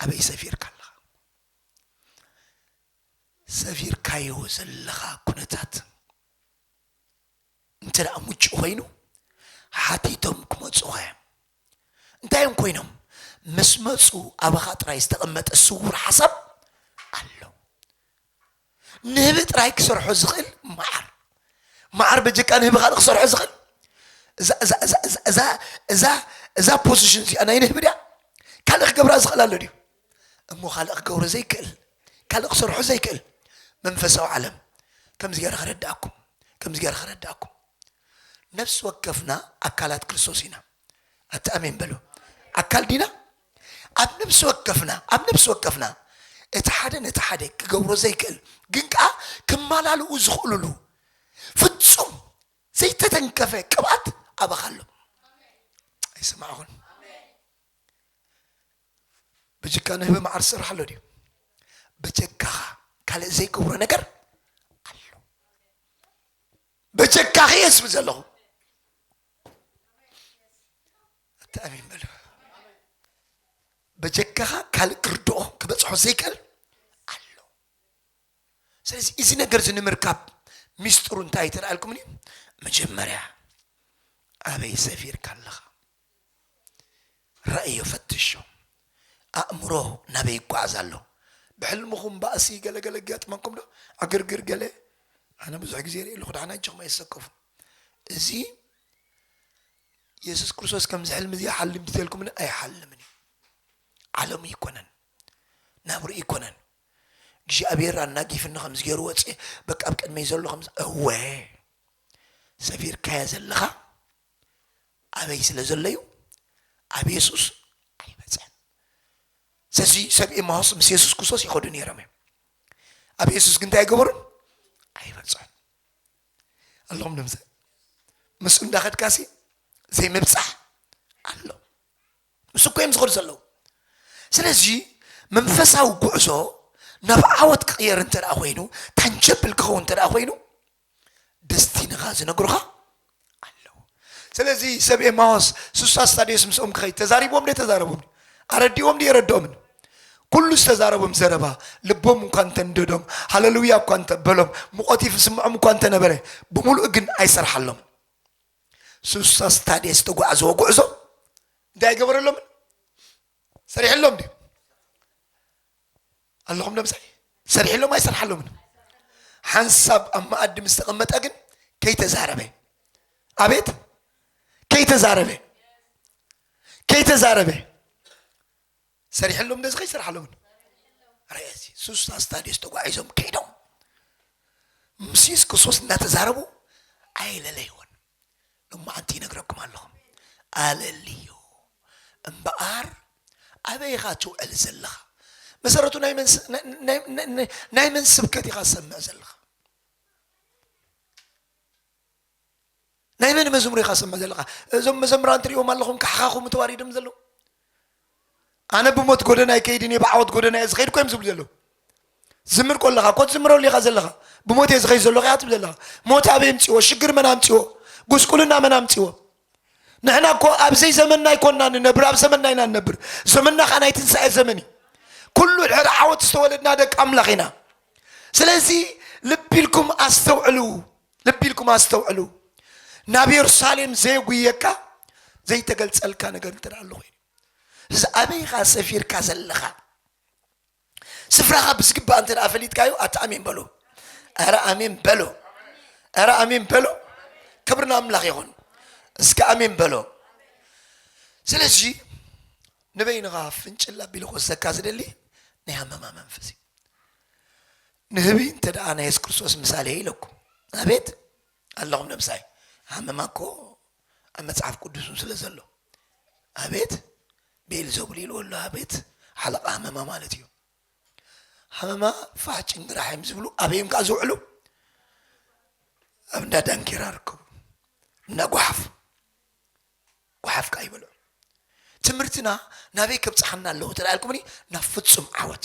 ኣበይ ሰፊርካ ኣለኻ? ሰፊርካዮ ዘለኻ ኩነታት እንተ ደኣ ምቹእ ኾይኑ ሓቲቶም ክመጹኻ እዮም። እንታይ እዮም ኮይኖም? ምስ መጹ ኣባኻ ጥራይ ዝተቐመጠ ስዉር ሓሳብ ኣሎ። ንህቢ ጥራይ ክሰርሖ ዝኽእል መዓር መዓር በጀካ ንህቢ ካልእ ክሰርሖ ዝኽእል እዛ ፖዚሽን እዚኣ ናይ ንህቢ ድያ ካልእ ክገብራ ዝኽእል ኣሎ ድዩ እሞ ካልእ ክገብሮ ዘይክእል ካልእ ክሰርሖ ዘይክእል መንፈሳዊ ዓለም ከምዚ ገይረ ከረዳእኩም ከምዚ ገይረ ከረዳእኩም ነፍሲ ወከፍና ኣካላት ክርስቶስ ኢና ኣቲ ኣሜን በሉ ኣካል ዲና ኣብ ነብሲ ወከፍና ኣብ ነብሲ ወከፍና እቲ ሓደ ነቲ ሓደ ክገብሮ ዘይክእል ግን ከዓ ክመላልኡ ዝኽእሉሉ ፍጹም ዘይተተንከፈ ቅብኣት ኣባኻ ኣሎ ኣይሰማዕኹን ብጅካ ንህበ መዓር ዝስራሕ ኣሎ ድዩ በጀካኻ ካልእ ዘይገብሮ ነገር ኣሎ በጀካኺ የስብ ዘለኹ ኣተኣሚን በሉ በጀካኻ ካልእ ክርድኦ ክበፅሖ ዘይክእል ኣሎ ስለዚ እዚ ነገር እዚ ንምርካብ ሚስጥሩ እንታይ ተላኣልኩምኒ መጀመርያ ኣበይ ሰፊርካ ኣለኻ ርእዮ ፈትሾ ኣእምሮ ናበይ ይጓዓዝ ኣሎ ብሕልምኹም ባእሲ ገለ ገለ ኣጋጥመኩም ዶ ዕግርግር ገለ ኣነ ብዙሕ ግዜ ሪኤ ኣለኹ ዳሓን ኣጀኹም ኣይትሰከፉ እዚ የሱስ ክርስቶስ ከምዚ ሕልሚ እዚ ሓሊምቲ ተልኩምኒ ኣይሓልምን እዩ ዓለሙ ይኮነን ናብሩ ይኮነን እግዚኣብሔር ኣናጊፍኒ ከምዚ ገይሩ ወፅእ በቃ ኣብ ቅድመይ ዘሎ ከምዚ እወ ሰፊርካያ ዘለኻ ኣበይ ስለ ዘሎዩ ኣብ የሱስ ኣይበጽሐን። ሰዚ ሰብ ኤማሆስ ምስ የሱስ ክሶስ ይኸዱ ነይሮም እዮም። ኣብ የሱስ ግን እንታይ ገበሩን ኣይበጽሑን ኣሎም ንምዘ ምስ እንዳኸድካሲ ዘይምብጻሕ ኣሎ ምስ እኮ እዮም ዝኸዱ ዘለዉ ስለዚ መንፈሳዊ ጉዕዞ ናብ ዓወት ክቕየር እንተ ኮይኑ ታንጀብል ክኸውን እንተ ኮይኑ ደስቲንኻ ዝነግሩኻ ኣለዉ ስለዚ ሰብ ኤማዎስ ስሳ ስታድዮስ ምስኦም ክኸይድ ተዛሪቦም ዶ ተዛረቦም ኣረዲኦም ዶ የረድኦምን ኩሉ ዝተዛረቦም ዘረባ ልቦም እኳ እንተንደዶም ሃለሉያ እኳ እንተበሎም ሙቐት ይፍስምዖም እኳ እንተነበረ ብምሉእ ግን ኣይሰርሓሎምን ስሳ ስታድየስ ዝተጓዕዘዎ ጉዕዞ እንታይ ኣይገበረሎምን ሰሪሕሎም ድዩ ኣለኹም ዶምሳይ ሰርሒሎም ኣይሰርሓሎምን ሓንሳብ ኣብ መኣዲ ምስ ተቐመጠ ግን ከይተዛረበ ኣቤት ከይተዛረበ ከይተዛረበ ሰሪሐሎም ነዚ ከይሰርሓሎምን ርእሲ ሱስ ኣስታድዮስ ተጓዒዞም ከይዶም ምስ የሱስ ክርስቶስ እናተዛረቡ ኣይለለይዎን ሎማዓንቲ ይነግረኩም ኣለኹ ኣለልዩ እምበኣር ኣበይ ኢኻ ትውዕል ዘለኻ መሰረቱ ናይ መን ስ- ናይ- ናይ- ናይ- ናይ- ናይ መን ስብከት ኢኻ ዝሰምዕ ዘለኻ ናይ መን መዝሙር ኢኻ ዝሰምዕ ዘለኻ እዞም መዘምራን ትሪኦም ኣለኹም ካሕኻኹም ተዋሪዶም ዘለዉ ኣነ ብሞት ጎደና ኣይከይድን እየ ብዓወት ጎደና እየ ዝኸይድ እኮ እዮም ዝብሉ ዘለዉ ዝምር ኮለኻ እኮ ትዝምረሉ ኢኻ ዘለኻ ብሞት እየ ዝኸይድ ዘለኹ እያ ትብል ዘለኻ ሞት ኣበይ ኣምፅዎ ሽግር መን ኣምፅዎ ጉስቁልና መን ኣምፅዎ ንሕና እኮ ኣብዘይ ዘመንና ኣይኮንና ንነብር ኣብ ዘመንና ኢና ንነብር ዘመንና ከዓ ናይ ትንሳኤ ዘመን እዩ ኩሉ ድሕሪ ዓወት ዝተወለድና ደቂ ኣምላኽ ኢና ስለዚ ልቢ ኢልኩም ኣስተውዕሉ ልቢ ኢልኩም ኣስተውዕሉ፣ ናብ የሩሳሌም ዘየጕይየካ ዘይተገልጸልካ ነገር እንተ ኣሎ ዀይኑ፣ እዚ ኣበይ ኢኻ ሰፊርካ ዘለኻ? ስፍራኻ ብዝግባእ እንተ ፈሊጥካዮ፣ ኣቲ ኣሜን በሉ። ኧረ ኣሜን በሎ፣ ኧረ ኣሜን በሎ። ክብሪ ንኣምላኽ ይኹን። እስከ ኣሜን በሎ። ስለዚ ንበይንኻ ፍንጭል ኣቢሉ ክወስደካ ዝደሊ ናይ ሃመማ መንፈስ እዩ። ንህቢ እንተ ደኣ ናይ የሱስ ክርስቶስ ምሳሌ እየ ኢለኩም፣ ኣቤት ኣለኹም ነብሳይ፣ ሃመማ እኮ ኣብ መጽሓፍ ቅዱስ እውን ስለ ዘሎ፣ ኣቤት ብኤልዘቡል ኢልዎ ኣሎ፣ ኣቤት ሓለቓ ሃመማ ማለት እዩ። ሃመማ ፋሕ ጭንግራሕ እዮም ዝብሉ፣ ኣበይ እዮም ከኣ ዝውዕሉ? ኣብ እንዳ ዳንኬራ ርከቡ፣ እንዳ ጓሓፍ ጓሓፍ ከኣ ይበልዑ። ትምህርትና ናበይ ከብጽሓና ኣለዎ እንተ ኢልኩምኒ፣ ናብ ፍጹም ዓወት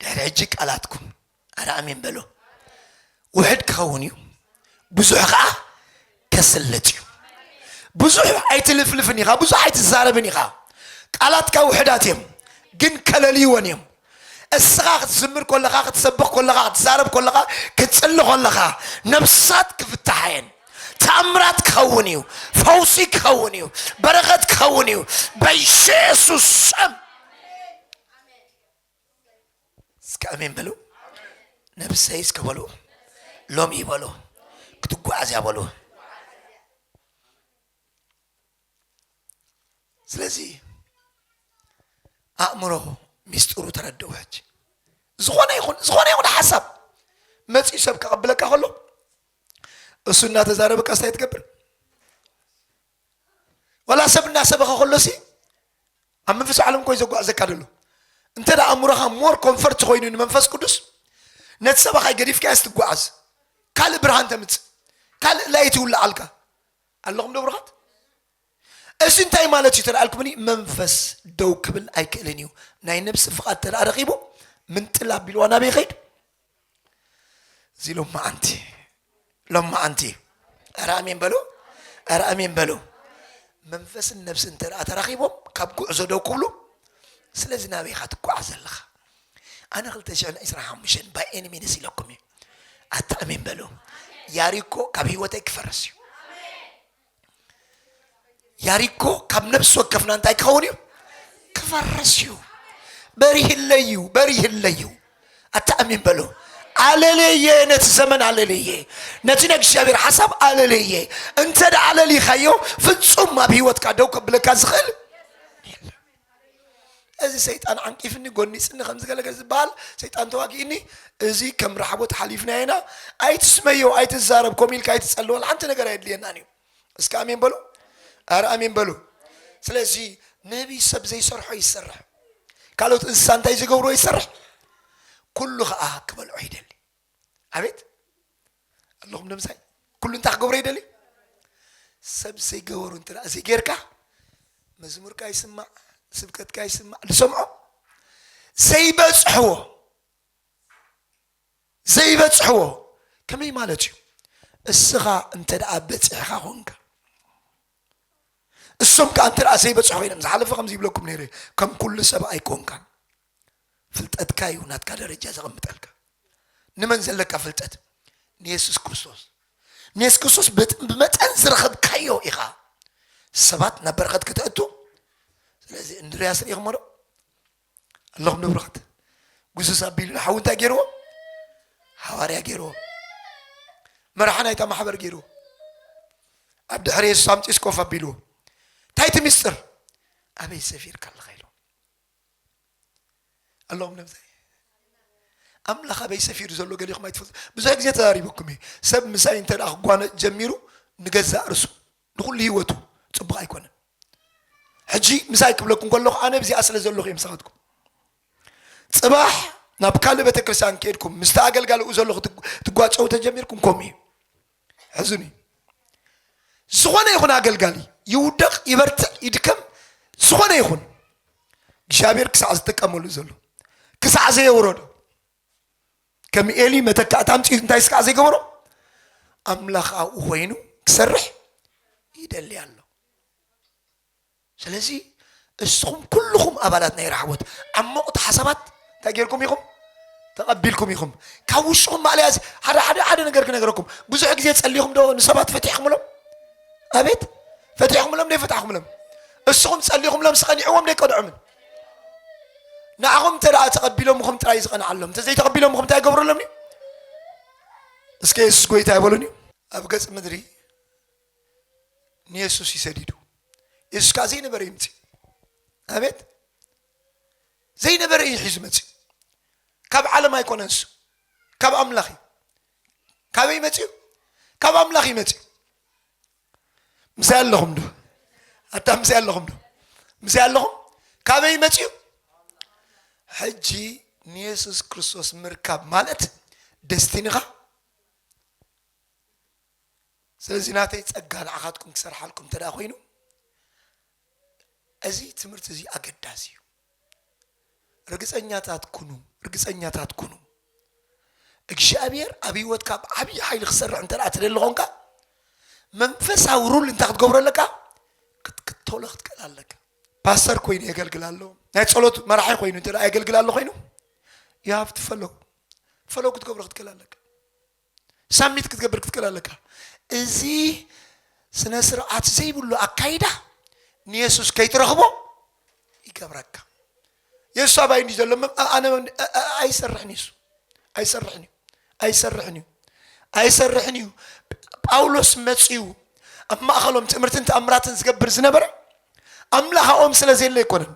ድሕሪ ሕጂ ቃላትኩም ኣረ ኣሜን በሎ ውሕድ ክኸውን እዩ ብዙሕ ከዓ ከስልጥ እዩ ብዙሕ ኣይትልፍልፍን ኢኻ ብዙሕ ኣይትዛረብን ኢኻ ቃላትካ ውሕዳት እዮም ግን ከለልይወን እዮም እስኻ ክትዝምር ኮለኻ ክትሰብኽ ኮለኻ ክትዛረብ ኮለኻ ክትፅሊ ኮለኻ ነብሳት ክፍታሓ እየን ተኣምራት ክኸውን እዩ ፈውሲ ክኸውን እዩ በረኸት ክኸውን እዩ በየሱስ ስም እስከ ኣሜን በሉ። ነብሰይ እስከ በሉ ሎሚ በሉ ክትጓዓዝ እያ በሉ። ስለዚ ኣእምሮ ሚስጥሩ ተረድኡ ሕጂ ዝኾነ ይኹን ዝኾነ ይኹን ሓሳብ መፂኡ ሰብ ከቐብለካ ከሎ እሱ እናተዛረበ ቀስታይ ትገብር ዋላ ሰብ እናሰበኸ ከሎሲ ኣብ መንፈስ ዓለም ኮይ ዘጓዕዘካ ደሎ እንተ ደኣ ኣእምሮኻ ሞር ኮንፈርት ኮይኑ ንመንፈስ ቅዱስ ነቲ ሰባኻይ ገዲፍካያስ ትጓዓዝ ካልእ ብርሃን ተምፅእ ካልእ ላይ ትውልዓልካ ኣለኹም ዶ ብሩኻት እዚ እንታይ ማለት እዩ ተደኣልኩምኒ መንፈስ ደው ክብል ኣይክእልን እዩ ናይ ነብሲ ፍቓድ ተደኣ ረኺቡ ምንጥል ኣቢልዋ ናበይ ኸይድ እዚ ሎማዓንቲ ሎማዓንቲ ኧረ ኣሜን በሉ ኧረ ኣሜን በሉ መንፈስን ነብሲ እንተ ተራኺቦም ካብ ጉዕዞ ደው ክብሉ ስለዚ ናበይ ኢኻ ትጓዓዝ ዘለኻ ኣነ 225 ባይ ኤኒ ሚንስ ኢለኩም እዩ ኣታ ኣሜን በሉ ያሪኮ ካብ ህይወተይ ክፈርስ እዩ ያሪኮ ካብ ነብሲ ወከፍና እንታይ ክኸውን እዩ ክፈርስ እዩ በሪህለዩ በሪህለዩ ኣተኣሚን በሎ ኣለለየ ነቲ ዘመን ኣለለየ ነቲ ናይ እግዚኣብሔር ሓሳብ ኣለለየ እንተ ደኣ ኣለሊኻዮ ፍጹም ኣብ ህይወትካ ደው ከብለካ ዝኽእል እዚ ሰይጣን ዓንቂፍኒ ጎኒጽኒ ከምዚ ገለ ገለ ዝበሃል ሰይጣን ተዋጊእኒ እዚ ከም ራሕቦት ሓሊፍናዮ ኢና ኣይትስመዮ ኣይትዛረብ ኮም ኢልካ ኣይትጸልወል ሓንቲ ነገር ኣየድልየናን እዩ እስከ ኣሜን በሉ ኣረ ኣሜን በሉ ስለዚ ነቢይ ሰብ ዘይሰርሖ ይሰርሕ ካልኦት እንስሳ እንታይ ዝገብርዎ ይሰርሕ ኩሉ ከዓ ክበልዖ ይደሊ ኣቤት ኣለኹም ንምሳይ ኩሉ እንታይ ክገብሮ ይደልዩ ሰብ ዘይገበሩ እንተ ዘይጌርካ መዝሙርካ ይስማዕ ስብከትካ ይስማዕ ዝሰምዖ ዘይበፅሕዎ ዘይበፅሕዎ ከመይ ማለት እዩ እስኻ እንተ ደኣ በፂሕኻ ኮንካ እሶም ከዓ እንተ ዘይበፅሑ ኮይኖም ዝሓለፈ ከምዚ ይብለኩም ነይረ ከም ኩሉ ሰብ ኣይኮንካን ፍልጠትካ እዩ ናትካ ደረጃ ዘቐምጠልካ ንመን ዘለካ ፍልጠት ንየሱስ ክርስቶስ ንየሱስ ክርስቶስ ብመጠን ዝረኸብካዮ ኢኻ ሰባት ናብ በረኸት ከተእቱ ስለዚ እንድርያስ ርኢኹሞ ዶ ኣለኹም ንብረኸት ጉሱስ ኣቢሉ ንሓዊ እንታይ ገይርዎ ሃዋርያ ገይርዎ መርሓ ናይታ ማሕበር ገይርዎ ኣብ ድሕሪ የሱስ ኣምፂስ ኮፍ ኣቢልዎ እንታይ እቲ ምስጢር ኣበይ ሰፊርካ ኣለኻ ኢሎ ኣለዎም ነብዘ ኣምላኽ ኣበይ ሰፊሩ ዘሎ ገሊኹም ኣይትፈልጡ ብዙሕ ግዜ ተዛሪበኩም እዩ ሰብ ምሳይ እንተ ክጓነፅ ጀሚሩ ንገዛእ ርሱ ንኩሉ ህይወቱ ፅቡቅ ኣይኮነን ሕጂ ምሳይ ክብለኩም ከለኹ ኣነ ብዚኣ ስለ ዘለኹ እዮም ሰኻትኩም ፅባሕ ናብ ካልእ ቤተክርስትያን ከድኩም ምስቲ ኣገልጋሊኡ ዘለኹ ትጓጨው ተጀሚርኩም ከምኡ እዩ ሕዙን እዩ። ዝኾነ ይኹን ኣገልጋሊ ይውደቕ፣ ይበርትዕ፣ ይድከም፣ ዝኾነ ይኹን እግዚኣብሔር ክሳዕ ዝጥቀመሉ ዘሎ ክሳዕ ዘየውረዶ ከም ኤሊ መተካእታ ኣምፅኡ እንታይ ስካዕ ዘይገበሮ ኣምላኽ ኣብኡ ኮይኑ ክሰርሕ ይደሊ ኣሎ። ስለዚ እስኹም ኩሉኹም ኣባላት ናይ ራሕቦት ዓሞቕቲ ሓሳባት እንታይ ጌርኩም ኢኹም? ተቐቢልኩም ኢኹም። ካብ ውሽኹም ማእለያ እዚ ሓደ ሓደ ሓደ ነገር ክነገረኩም ብዙሕ ግዜ ጸሊኹም ዶ ንሰባት ፈቲሕኩምሎም? ኣቤት ፈቲሕኩምሎም ዶ ይፈታሕኩምሎም? እስኹም ጸሊኹምሎም ስቀኒዕዎም ዶ ይቀንዖምን? ንዓኹም እንተ ደኣ ተቐቢሎምኹም ጥራይ ዝቐንዓሎም እንተ ዘይተቐቢሎምኹም እንታይ ይገብረሎም እዩ? እስከ የሱስ ጎይታ ይበሉን እዩ ኣብ ገጽ ምድሪ ንየሱስ እዩ ሰዲዱ የሱስ ከዓ ዘይነበረ እዩ ምፅኡ ኣቤት ዘይነበረ እዩ ሒዙ መፅኡ ካብ ዓለም ኣይኮነ ንሱ ካብ ኣምላኽ እዩ ካበይ መፅኡ ካብ ኣምላኽ እዩ መፅኡ ምሳይ ኣለኹም ዶ ኣታ ምሳይ ኣለኹም ዶ ምሳይ ኣለኹም ካበይ መፅኡ ሕጂ ንየሱስ ክርስቶስ ምርካብ ማለት ደስቲንኻ ስለዚ ናተይ ጸጋ ንዓኻትኩም ክሰርሓልኩም እንተድኣ ኮይኑ እዚ ትምህርቲ እዚ ኣገዳሲ እዩ። ርግጸኛታት ኩኑ፣ ርግጸኛታት ኩኑ። እግዚኣብሔር ኣብ ህይወትካ ብዓብዪ ሓይሊ ክሰርሕ እንተድኣ ትደሊ ኾንካ መንፈሳዊ ሩል እንታይ ክትገብሮ ኣለካ? ክትክተሎ ክትክእል ኣለካ። ፓስተር ኮይኑ የገልግል ኣሎ ናይ ጸሎት መራሒ ኮይኑ እንተ የገልግል ኣሎ ኮይኑ ዩ ሃቭ ትፈለው ፈለው ክትገብሮ ክትክእል ኣለካ ሳሚት ክትገብር ክትክእል ኣለካ። እዚ ስነ ስርዓት ዘይብሉ ኣካይዳ ንየሱስ ከይትረኽቦ ይገብረካ። የሱስ ኣባይ እንዲ ዘሎ ኣነ ኣይሰርሕን የሱ ኣይሰርሕን እዩ ኣይሰርሕን እዩ ኣይሰርሕን እዩ። ጳውሎስ መፅኡ ኣብ ማእኸሎም ትእምርትን ተኣምራትን ዝገብር ዝነበረ ኣምላኻኦም ስለ ዘየለ ኣይኮነን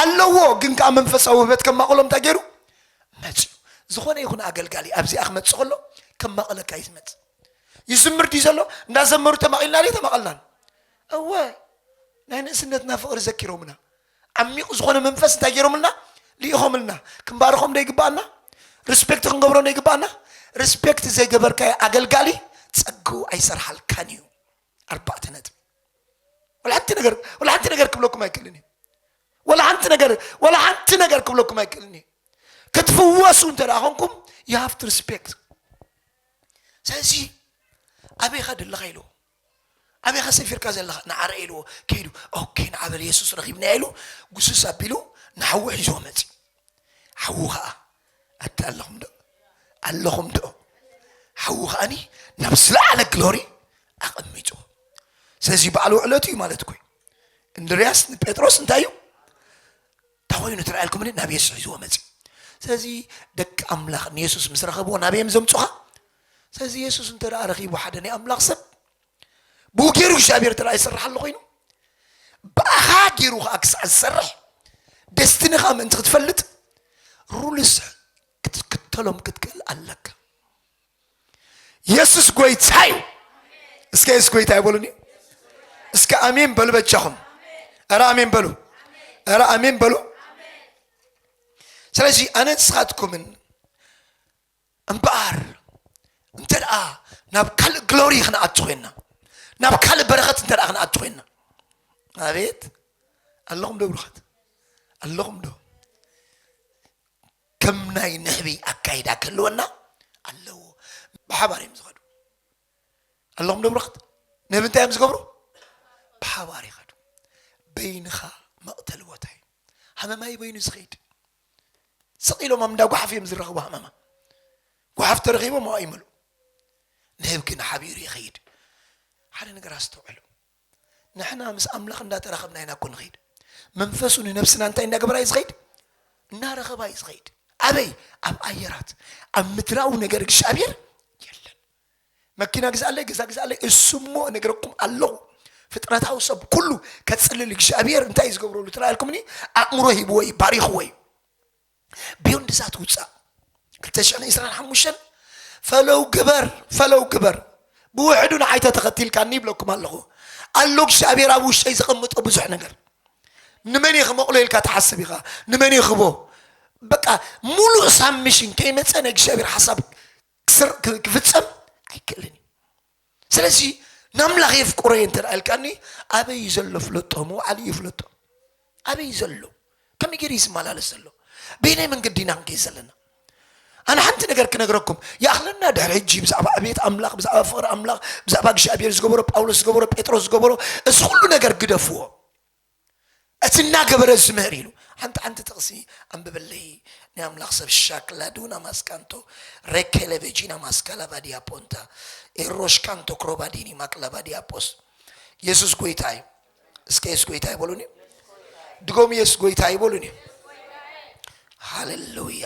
ኣለዎ ግን ከኣ መንፈሳዊ ውህበት ከማቕሎ እንታይ ገይሩ መጽዩ ዝኾነ ይኹን ኣገልጋሊ ኣብዚኣ ክመጽእ ከሎ ከማቕለካ እዩ ዝመጽእ ይዝምር ድዩ ዘሎ እንዳዘመሩ ተማቒልና ድዩ ተማቐልናን እወ ናይ ንእስነትና ፍቕሪ ዘኪሮምና ዓሚቕ ዝኾነ መንፈስ እንታይ ገይሮምልና ልኢኾምልና ክንባርኾም ዶ ይግባኣና ሪስፔክት ክንገብሮ ዶ ይግባኣና ሪስፔክት ዘይገበርካዮ ኣገልጋሊ ጸግኡ ኣይሰርሓልካን እዩ ኣርባዕተ ነጥቢ ወላ ሓንቲ ነገር ወላ ሓንቲ ነገር ክብለኩም ኣይክእልን እዩ ወላ ሓንቲ ነገር ወላ ሓንቲ ነገር ክብለኩም ኣይክእልን እዩ ክትፍወሱ እንተ ደኣ ኮንኩም ዩ ሃቭ ቱ ሪስፔክት ስለዚ ኣበይኻ ደለኻ ኢልዎ ኣበይኻ ሰፊርካ ዘለኻ ንዓረ ኢልዎ ከይዱ ኦኬ ንዓበል የሱስ ረኺብና ኢሉ ጉስስ ኣቢሉ ንሓዊ ሒዞ መፅእ ሓዉ ኸኣ ኣብቲ ኣለኹም ዶ ኣለኹም ዶ ሓዉ ኸኣኒ ናብ ዝለዓለ ግሎሪ ኣቐሚጡ ስለዚ በዓል ውዕለቱ እዩ ማለት ኮይ እንድርያስ ንጴጥሮስ እንታይ እዩ እንታይ ኮይኑ ትረኣየልኩምኒ ናብ የሱስ ሒዝዎ መፅእ ስለዚ ደቂ ኣምላኽ ንየሱስ ምስ ረኸብዎ ናበየም ዘምፁኻ ስለዚ የሱስ እንተ ረኺቡ ሓደ ናይ ኣምላኽ ሰብ ብኡ ገይሩ እግዚኣብሔር ተላ ይሰርሕ ኣሎ ኮይኑ ብኣኻ ገይሩ ከዓ ክሳዕ ዝሰርሕ ደስትንኻ ምእንቲ ክትፈልጥ ሩልስ ክትክተሎም ክትክእል ኣለካ የሱስ ጎይታ እዩ እስከ የሱስ ጎይታ ይበሉኒ እስከ ኣሜን በሉ በጃኹም እረ ኣሜን በሉ እረ ኣሜን በሉ ስለዚ ኣነ ንስኻትኩምን እምበኣር እንተደኣ ናብ ካልእ ግሎሪ ክንኣቱ ኮይንና ናብ ካልእ በረኸት እንተ ክንኣቱ ኮይንና ኣቤት ኣለኹም ዶ ብሩኻት ኣለኹም ዶ ከም ናይ ንሕቢ ኣካይዳ ክህልወና ኣለዎ ብሓባር እዮም ዝኸዱ ኣለኹም ዶ ብሩኻት ንህቢ እንታይ እዮም ዝገብሩ ብሓባር ይኸዱ በይንኻ መቕተሊ ቦታ እዩ ሃመማይ በይኑ ዝኸይድ ስቕ ኢሎም ኣብ እንዳ ጓሓፍ እዮም ዝራኸቡ ሃመማ ጓሓፍ ተረኺቦም ኣብኣ ይመልኡ ንህብ ግን ሓቢሩ ይኸይድ ሓደ ነገር ኣስተውዕሉ ንሕና ምስ ኣምላኽ እንዳተራኸብና ኢና እኮ ንኸይድ መንፈሱ ንነብስና እንታይ እንዳገበራ እዩ ዝኸይድ እናረኸባ እዩ ዝኸይድ ኣበይ ኣብ ኣየራት ኣብ ምድራዊ ነገር እግዚኣብሔር የለን መኪና ግዝኣለይ ገዛ ግዝኣለይ እሱ እሞ እነግረኩም ኣለኹ ፍጥረታዊ ሰብ ኩሉ ከጽልል እግዚኣብሔር እንታይ እዩ ዝገብረሉ ትላልኩምኒ ኣእምሮ ሂብዎ እዩ ባሪኽዎ እዩ ቢዮንድ ዛት ውፃእ 225 ፈለው ግበር ፈለው ግበር ብውሕዱ ንዓይ ተተኸቲልካኒ ይብለኩም ኣለኹ ኣሎ እግዚኣብሔር ኣብ ውሽጠይ ዘቐምጦ ብዙሕ ነገር ንመን እየ ክመቕሎ ኢልካ ትሓስብ ኢኻ ንመን እየ ክቦ በቃ ሙሉእ ሳብ ሚሽን ከይመፀ ናይ እግዚኣብሔር ሓሳብ ክፍጸም ኣይክእልን እዩ ስለዚ ናምላኽ የፍቅሮ እየ እንተ ኢልካኒ ኣበይ እዩ ዘሎ ፍለጦ ምውዓል እዩ ፍለጦ ኣበይ እዩ ዘሎ ከመይ ገይሩ እዩ ዝመላለስ ዘሎ በይናይ መንገዲ ኢና ክንከይ ዘለና ኣነ ሓንቲ ነገር ክነግረኩም ይኣኽለና ድሕሪ ሕጂ ብዛዕባ ዕብየት ኣምላኽ ብዛዕባ ፍቕሪ ኣምላኽ ብዛዕባ እግዚኣብሔር ዝገበሮ ጳውሎስ ዝገበሮ ጴጥሮስ ዝገበሮ እዚ ኩሉ ነገር ግደፍዎ እቲ እናገበረ ዝምህር ኢሉ ሓንቲ ሓንቲ ጥቕሲ ኣንብበለይ ናይ ኣምላኽ ሰብ ሻክላዱና ማስካንቶ ሬኬለ ቬጂና ማስካላቫዲያ ፖንታ ኤሮሽካንቶ ክሮባዲኒ ማክላቫዲያ ፖስ የሱስ ጎይታ እዩ እስከ የሱስ ጎይታ ይበሉን እዩ ድጎም የሱስ ጎይታ ይበሉን እዩ ሃሌሉያ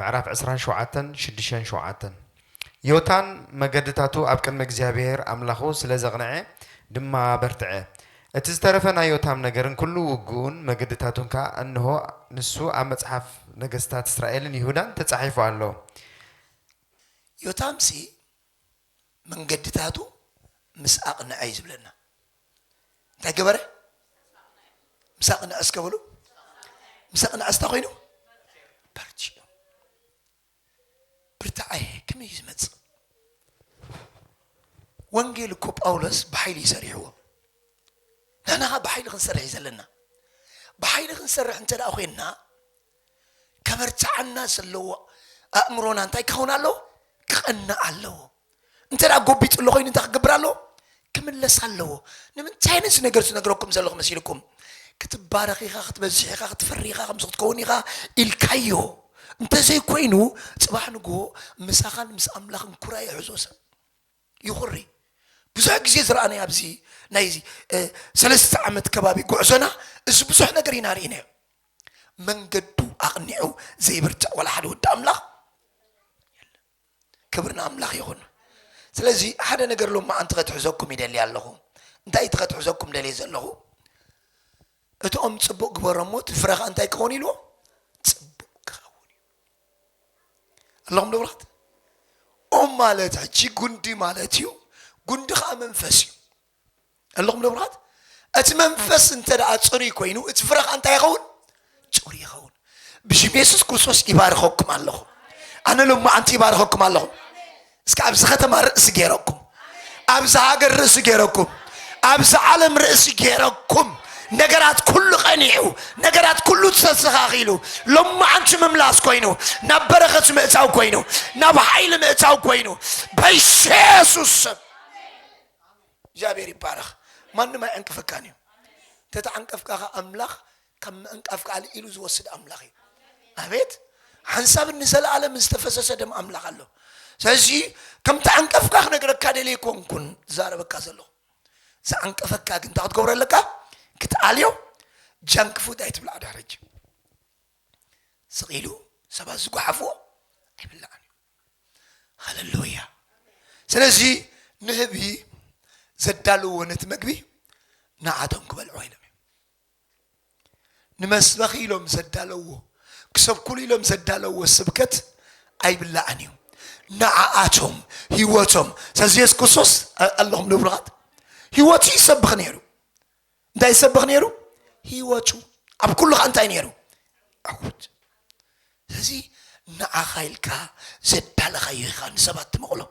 ምዕራፍ ዕስራን ሸውዓተን ሽዱሸን ሸውዓተን ዮታን መገድታቱ ኣብ ቅድሚ እግዚኣብሄር ኣምላኹ ስለ ዘቕንዔ ድማ በርትዐ። እቲ ዝተረፈ ናይ ዮታም ነገርን ኵሉ ውግኡን መገድታቱን ከኣ እንሆ፣ ንሱ ኣብ መጽሓፍ ነገስታት እስራኤልን ይሁዳን ተጻሒፉ ኣሎ። ዮታምሲ መንገድታቱ ምስ ኣቕንዐ እዩ ዝብለና እንታይ ገበረ ምስ ኣቕንዐ እስከ በሉ ምስ ኣቕንዐ ስታ ኮይኑ በርቲዑ ብርታዐ ከመይ እዩ ዝመፅእ ወንጌል እኮ ጳውሎስ ብሓይሊ እዩ ሰሪሕዎ ንሕና ብሓይሊ ክንሰርሕ እዩ ዘለና ብሓይሊ ክንሰርሕ እንተ ደኣ ኮይንና ከበርትዓና ዘለዎ ኣእምሮና እንታይ ክኸውን ኣለዎ? ክቐንእ ኣለዎ። እንተ ጎቢጡ ኣሎ ኮይኑ እንታይ ክገብር ኣለዎ? ክምለስ ኣለዎ። ንምንታይ ነዚ ነገር ዝነግረኩም ዘለኹ መሲልኩም? ክትባረኽ ኢኻ፣ ክትበዝሕ ኢኻ፣ ክትፈሪ ኢኻ፣ ከምዚ ክትከውን ኢኻ ኢልካዮ እንተዘይኮይኑ ፅባሕ ንግሆ ምሳኻን ምስ ኣምላኽን ኩራ ይሕዞ ሰብ ይኹሪ ብዙሕ ግዜ ዝረኣናዮ ኣብዚ ናይ ሰለስተ ዓመት ከባቢ ጉዕዞና እዚ ብዙሕ ነገር ኢና ርኢናዮ መንገዱ ኣቕኒዑ ዘይብርትዕ ዋላ ሓደ ወዲ ኣምላኽ የለን ክብሪ ንኣምላኽ ይኹን ስለዚ ሓደ ነገር ሎም መዓንቲ ከትሕዘኩም ይደሊ ኣለኹ እንታይ እቲ ከትሕዘኩም ደልየ ዘለኹ እቶም ፅቡቅ ግበሮሞ እቲ ፍረ ከዓ እንታይ ክኸውን ኢልዎ ኣለኹም ንብራት ኦም ማለት ሕጂ ጉንዲ ማለት እዩ ጉንዲ ከዓ መንፈስ እዩ ኣለኹም ንብራት እቲ መንፈስ እንተ ደኣ ፅሩይ ኮይኑ እቲ ፍረ ከዓ እንታይ ይኸውን ፅሩይ ይኸውን ብሽም የሱስ ክርስቶስ ይባርኸኩም ኣለኹ ኣነ ሎማዓንቲ ይባርኸኩም ኣለኹ እስከ ኣብዚ ከተማ ርእሲ ገይረኩም ኣብዚ ሃገር ርእሲ ገይረኩም ኣብዚ ዓለም ርእሲ ገይረኩም ነገራት ኩሉ ቀኒዑ ነገራት ኩሉ ተስተኻኺሉ ሎማዓንቲ ምምላስ ኮይኑ ናብ በረኸት ምእታው ኮይኑ ናብ ሓይሊ ምእታው ኮይኑ በኢየሱስ ስም እግዚኣብሔር ይባረኽ ማንም ኣይዕንቅፈካን እዩ ተተዓንቀፍካ ኸ ኣምላኽ ከም ምዕንቃፍ ከኣ ልኢሉ ዝወስድ ኣምላኽ እዩ ኣቤት ሓንሳብን ንዘለኣለምን ዝተፈሰሰ ደም ኣምላኽ ኣሎ ስለዚ ከም ተዓንቀፍካ ክነግረካ ደልየ ኮንኩን ዛረበካ ዘለኹ ዝዓንቀፈካ ግን እንታይ ክትገብሮ ኣለካ ክትኣልዮ ጃንክ ፉድ ኣይትብላዕ ዳረጅ ስቂሉ ሰባት ዝጓሓፍዎ ኣይብላዕን እዩ ሃለሉያ ስለዚ ንህቢ ዘዳልዎ ነቲ መግቢ ንዓቶም ክበልዑ ኢሎም ንመስበኺ ኢሎም ዘዳለውዎ ክሰብኩሉ ኢሎም ዘዳለውዎ ስብከት ኣይብላዕን እዩ ንዓኣቶም ህይወቶም ስለዚ የሱስ ክርስቶስ ኣለኹም ንብሩኻት ህይወቱ ይሰብኽ ነይሩ እንታይ ይሰብኽ ነይሩ ህይወቱ ኣብ ኩሉ ከዓ እንታይ ነይሩ ዕውት ስለዚ ንዓኻ ኢልካ ዘዳለኻዮ ኢኻ ንሰባት ትመቕሎም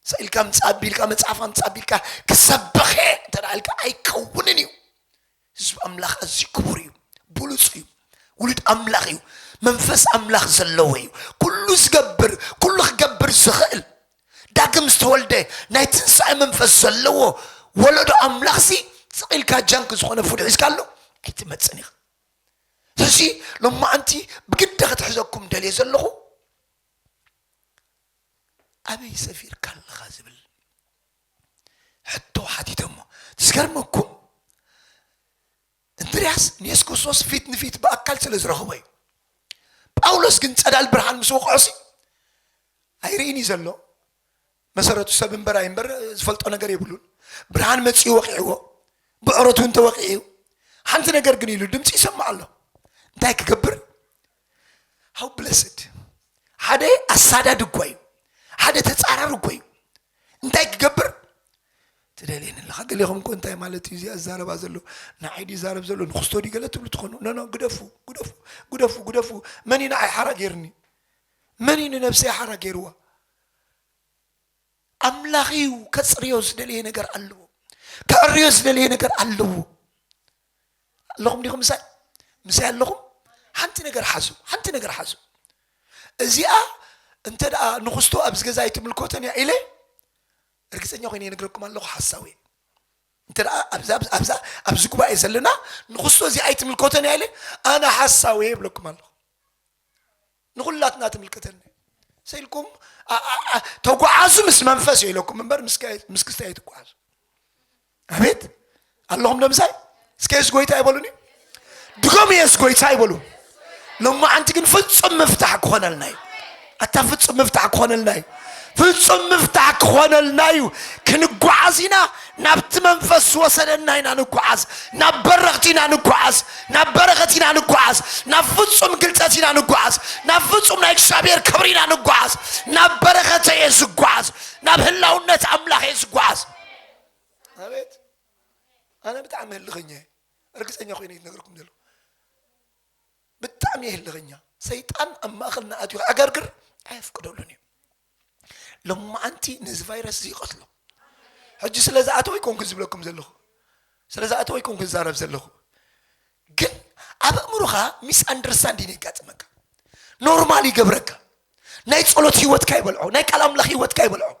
ሰኢልካ ምፃእ ኣቢልካ መፅሓፍ ኣምፃእ ኣቢልካ ክሰብኽ እየ እንተ ኢልካ ኣይከውንን እዩ ህዝቢ ኣምላኽ ኣዝዩ ክቡር እዩ ብሉፅ እዩ ውሉድ ኣምላኽ እዩ መንፈስ ኣምላኽ ዘለዎ እዩ ኩሉ ዝገብር ኩሉ ክገብር ዝኽእል ዳግም ዝተወልደ ናይ ትንሳኤ መንፈስ ዘለዎ ወለዶ ኣምላኽ ሲ ስቂልካ ጃንክ ዝኾነ ፉድ ሒዝካ ኣሎ ኣይትመፅን ኢኻ ስለዚ ሎማዓንቲ ብግዲ ክትሕዘኩም ደልየ ዘለኹ ኣበይ ሰፊርካ ኣለኻ ዝብል ሕቶ ሓቲቶሞ። ዝገርመኩም እንድርያስ ንየሱስ ክርስቶስ ፊት ንፊት ብኣካል ስለ ዝረኸቦ እዩ። ጳውሎስ ግን ጸዳል ብርሃን ምስ ወቕዖሲ ኣይርእን እዩ ዘሎ መሰረቱ ሰብ እምበር ኣይምበር ዝፈልጦ ነገር የብሉን ብርሃን መፅኡ ወቂዕዎ ብዕረቱ እንተወቂዑ ሓንቲ ነገር ግን ኢሉ ድምፂ ይሰማዕ ኣሎ እንታይ ክገብር ሃው ብለስድ ሓደ ኣሳዳዲ እኳ እዩ ሓደ ተጻራሪ እኮ እዩ እንታይ ክገብር ትደልየኒ ኣለኻ ገሌኹም እኮ እንታይ ማለት እዩ እዚኣ ዝዛረባ ዘሎ ንዓይ ድዩ ዛረብ ዘሎ ንክስቶ ድዩ ገለ ትብሉ ትኾኑ ኖኖ ግደፉ ግደፉ ግደፉ ግደፉ መን እዩ ንዓይ ሓራ ገይርኒ መን እዩ ንነብሰይ ሓራ ገይርዋ ኣምላኽ እዩ ከጽርዮ ዝደለየ ነገር ኣለዎ ከዕርዮ ዝደለየ ነገር ኣለዎ ኣለኹም ዲኹም ምሳይ ምሳይ ኣለኹም ሓንቲ ነገር ሓዙ ሓንቲ ነገር ሓዙ እዚኣ እንተ ደኣ ንክስቶ ኣብዚ ገዛ ኣይትምልኮተን እያ ኢለ እርግፀኛ ኮይነ ይነግረኩም ኣለኹ ሓሳዊ እንተ ደኣ ኣብዛ ኣብዚ ጉባኤ ዘለና ንክስቶ እዚ ኣይትምልኮተን እያ ኢለ ኣነ ሓሳዊ ይብለኩም ኣለኹ ንኩላትና ትምልከተና እያ ሰኢልኩም ተጓዓዙ ምስ መንፈስ እየ ኢለኩም እምበር ምስ ክስታይ ኣይትጓዓዙ ኣቤት ኣለኹም ደምሳይ እስከ የሱስ ጎይታ ይበሉኒ ድገሙ የሱስ ጎይታ ይበሉ ሎማዓንቲ ግን ፍፁም ምፍታሕ ክኾነልና እዩ ኣታ ፍፁም ምፍታሕ ክኾነልና እዩ ፍጹም ምፍታሕ ክኾነልና እዩ ክንጓዓዝ ኢና ናብቲ መንፈስ ዝወሰደና ኢና ንጓዓዝ ናብ በረኽቲ ኢና ንጓዓዝ ናብ በረኸት ኢና ንጓዓዝ ናብ ፍጹም ግልጸት ኢና ንጓዓዝ ናብ ፍጹም ናይ እግዚኣብሔር ክብሪ ኢና ንጓዓዝ ናብ በረኸተ እየ ዝጓዓዝ ናብ ህላውነት ኣምላኽ እየ ዝጓዓዝ ኣቤት ኣነ ብጣዕሚ ህልኸኛ እየ እርግፀኛ ኮይነ እዩ ነገርኩም ዘሎ ብጣዕሚ ህልኸኛ ሰይጣን ኣብ ማእኸልና ኣትዩ ክዕገርግር ኣየፍቅደሉን እዩ ሎማዓንቲ ነዚ ቫይረስ እዚ ይቐትሎ ሕጂ ስለ ዝኣተወ ይኮንኩ ዝብለኩም ዘለኹ ስለ ዝኣተወ ይኮንኩ ዝዛረብ ዘለኹ ግን ኣብ ኣእምሮኻ ሚስ ኣንደርስታንዲን የጋጥመካ ኖርማል ይገብረካ ናይ ጸሎት ህይወትካ ይበልዖ ናይ ቃል ኣምላኽ ህይወትካ ይበልዖ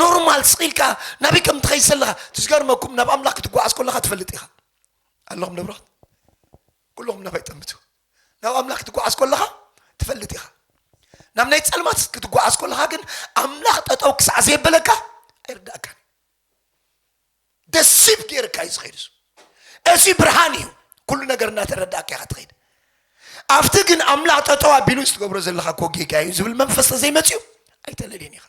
ኖርማል ስቂልካ ናበይ ከም ትኸይድ ዘለኻ ትዝገርመኩም ናብ ኣምላኽ ክትጓዓዝ ከለኻ ትፈልጥ ኢኻ ኣለኹም ደብራት ኩልኹም ናባይ ጠምቱ ናብ ኣምላኽ ክትጓዓዝ ኮለኻ ትፈልጥ ኢኻ ናብ ናይ ጸልማት ክትጓዓዝ ኮለኻ ግን ኣምላኽ ጠጠው ክሳዕ ዘየበለካ ኣይርዳእካን ደሲብ ገይርካ እዩ ዝኸይድ እሱ እዚ ብርሃን እዩ ኩሉ ነገር እናተረዳእካ ኢኻ ትኸይድ ኣብቲ ግን ኣምላኽ ጠጠው ኣቢሉ እዚ ትገብሮ ዘለኻ እኮ ጌጋ እዩ ዝብል መንፈስ ተዘይመፅኡ ኣይተለልየን ኢኻ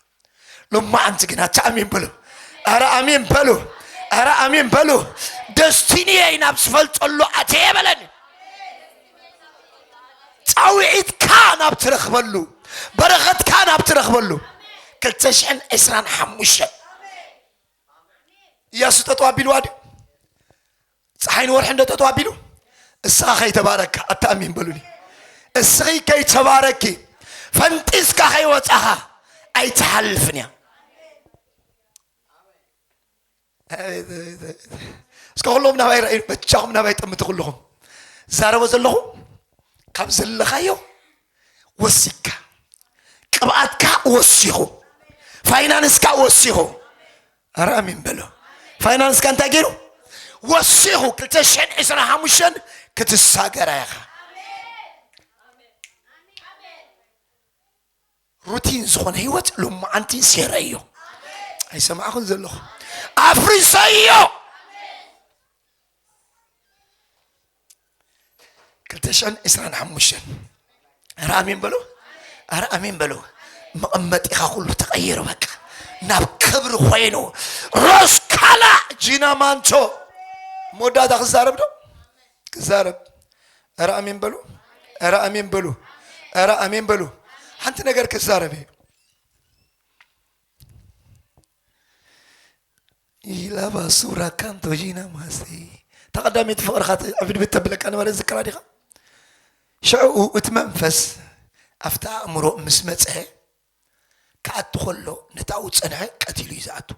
ሎማዓንቲ ግን ኣታ ኣሜን በሉ ኣረ ኣሜን በሉ ኣረ ኣሜን በሉ ደስቲኒየይ ናብ ዝፈልጠሉ ኣተየ በለኒ ፃውዒትካ ናብ ትረኽበሉ በረኸትካ ናብ ትረኽበሉ 225 እያሱ ጠጠው ኣቢልዋ ድዩ ፀሓይን ወርሕን ዶ ጠጠው ኣቢሉ እስኻ ከይተባረካ ኣተኣሚን በሉኒ እስኺ ከይተባረኪ ፈንጢስካ ከይወፃኻ ኣይትሓልፍን እያ እስከ ኩሎም ናባይ ርኣዩ በጃኹም ናባይ ጠምቲ ኩልኹም ዛረቦ ዘለኹ ካብ ዘለኻዮ ወሲካ ቅብኣትካ ወሲኹ ፋይናንስካ ወሲኹ ኣረ ኣሜን በሎ ፋይናንስካ እንታይ ገይሩ ወሲኹ 225 ክትሳገራ ኢኻ ሩቲን ዝኾነ ህይወት ሎማዓንቲ ሴረዮ ኣይሰማዕኹን ዘለኹ ኣፍሪሰዮ ክልተ ሽሕን ዕስራን ሓሙሽተን ኣረ ኣሜን በሉ ኣረ ኣሜን በሉ መቐመጢኻ ኩሉ ተቐይሩ በቃ ናብ ክብሪ ኮይኑ ሮስካላ ጂና ማንቾ መወዳእታ ክዛረብ ዶ ክዛረብ ኣረ ኣሜን በሉ ኣረ ኣሜን በሉ ኣረ ኣሜን በሉ ሓንቲ ነገር ክዛረብ እዩ ኢላ ባሱራ ካንቶጂና ማስቲ እታ ቀዳመይቲ ፍቕርኻ ዕብድብድ ተብለካ ነበረ ዝክራ ዲኻ ሽዕኡ እቲ መንፈስ ኣብቲ ኣእምሮ ምስ መፅሐ ክኣቱ ከሎ ነቲ ኣብኡ ዝፀንሐ ቀቲሉ እዩ ዝኣቱ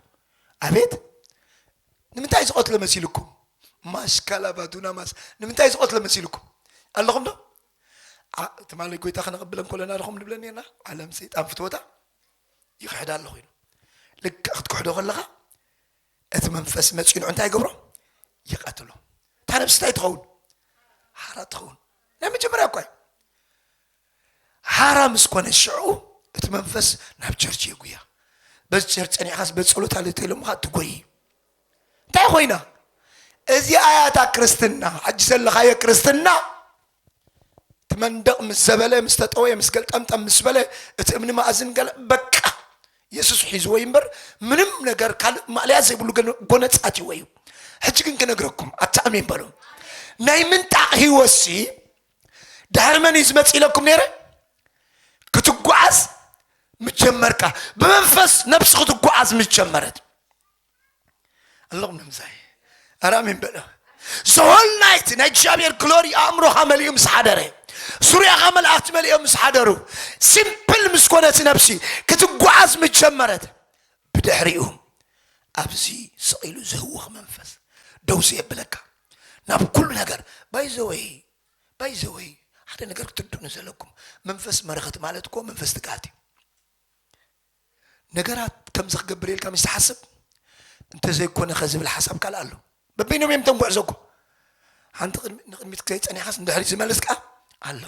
ኣቤት ንምንታይ ዝቐትሎ መሲልኩም ማስካላባ ዱናማስ ንምንታይ ዝቐትሎ መሲልኩም ኣለኹም ዶ ትማሊ ጎይታ ክነቕብለን ኮለና ኣለኹም ንብለን ነርና ዓለም ሰይጣን ፍትወታ ይኽሕድ ኣለኹ ኢሉ ልክዕ ክትክሕዶ ከለኻ እቲ መንፈስ መፂንዑ እንታይ ይገብሮ ይቀትሎ እታ ነብሲ እንታይ ትኸውን ሓራ ትኸውን ናይ መጀመርያ እኳ እዩ ሓራ ምስ ኮነ ሽዑ እቲ መንፈስ ናብ ቸርች የጉያ በዚ ቸርች ፀኒዕኻስ በፀሎት ኣለ ተኢሎምኻ ትጎይ እንታይ ኮይና እዚ ኣያታ ክርስትና ሕጂ ዘለኻዮ ክርስትና እቲ መንደቕ ምስ ዘበለ ምስ ተጠወየ ምስ ገልጠምጠም ምስ በለ እቲ እምኒ ማእዝን ገለ በቃ የሱስ ሒዝዎ እዩ እምበር ምንም ነገር ካልእ ማእለያ ዘይብሉ ገነ- ጎነጻትዎ እዩ ሕጂ ግን ክነግረኩም ኣብቲ ኣሜን በሉ ናይ ምንጣቕ ህይወት ሲ ድሕሪ መን እዩ ዝመጽእ ኢለኩም ነይረ ክትጓዓዝ ምስ ጀመርካ ብመንፈስ ነብሲ ክትጓዓዝ ምስ ጀመረት ኣለኹም ንምሳይ ኣረ ኣሜን በለ ዝሆል ናይት ናይ እግዚኣብሔር ግሎሪ ኣእምሮኻ መሊኡ ምስ ሓደረ ዙርያኻ መላእኽቲ መሊኦም ምስ ሓደሩ ሲምፕል ምስ ኮነት ነብሲ ክትጓዓዝ ምስ ጀመረት ብድሕሪኡ ኣብዚ ስቒሉ ዝህውኽ መንፈስ ደው ዘየብለካ ናብ ኩሉ ነገር ባይዘወይ ባይዘወይ ሓደ ነገር ክትርድኡኒ ዘለኩም መንፈስ መረኸት ማለት እኮ መንፈስ ትግሃት እዩ ነገራት ከምዚ ክገብር ኢልካ ምስ ትሓስብ እንተዘይኮነኸ ዝብል ሓሳብ ካልእ ኣሎ። በበይኖም እዮም እቶም ጉዕዞ እኮ ሓንቲ ንቅድሚት ዘይጸኒሕካስ ንድሕሪት ዝመልስ ከኣ ኣሎ።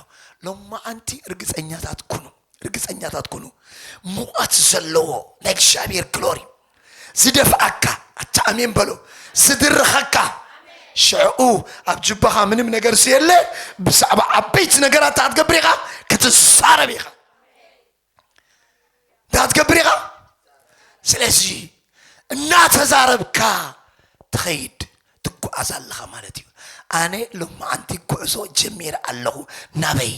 ሎማዓንቲ ርግጸኛታት ኩኑ ርግጸኛታት ኩኑ ሙቐት ዘለዎ ናይ እግዚኣብሔር ግሎሪ ዝደፍኣካ ኣታ ኣሜን በሎ ዝድርኸካ ሽዕኡ ኣብ ጅባኻ ምንም ነገር ስየለ ብዛዕባ ዓበይቲ ነገራት ክትገብር ኢኻ ክትዛረብ ኢኻ እንዳትገብር ኢኻ ስለዚ እናተዛረብካ ትኸይድ ትጓዓዝ ኣለኻ ማለት እዩ ኣነ ሎማዓንቲ ጉዕዞ ጀሚረ ኣለኹ ናበይ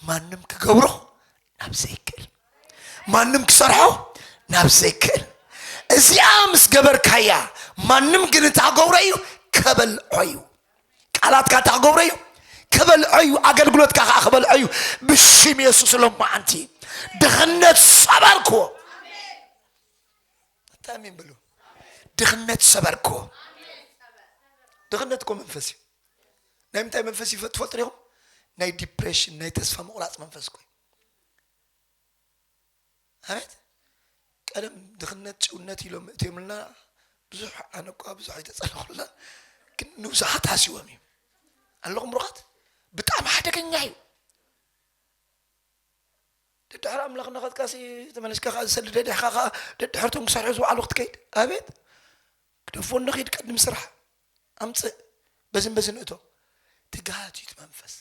ማንም ክገብሮ ናብ ዘይክእል ማንም ክሰርሖ ናብ ዘይክእል እዚኣ ምስ ገበርካያ ማንም ግን እታ ገብሮ እዩ ከበልዖ እዩ ቃላትካ እንታይ ክገብሮ እዩ ክበልዖ እዩ ኣገልግሎትካ ከዓ ክበልዖ እዩ ብሽም የሱስ ሎማዓንቲ ድኽነት ሰበርክዎ እንታይ ኣሜን ብሉ ድኽነት ሰበርክዎ ድኽነት እኮ መንፈስ እዩ ናይ ምንታይ መንፈስ እዩ ትፈልጡ ኢኹም ናይ ዲፕሬሽን ናይ ተስፋ ምቑራፅ መንፈስ ኮይ ኣቤት ቀደም ድኽነት ጭውነት ኢሎም እትዮምልና ብዙሕ ኣነ እኳ ብዙሕ ኣይተፀለኹልና ግን ንብዙሓት ሃሲዎም እዩ ኣለኹም ብሩኻት ብጣዕሚ ሓደገኛ እዩ ደድሕሪ ኣምላኽ እናኸትካሲ ተመለስካ ከዓ ዝሰሊ ደድሕካ ከዓ ደድሕርቶም ክሰርሑ ዝውዓሉ ክትከይድ ኣቤት ክደፎ ንኺድ ቅድም ስራሕ ኣምፅእ በዝን በዝን እቶ ትግሃት እዩ እቲ መንፈስ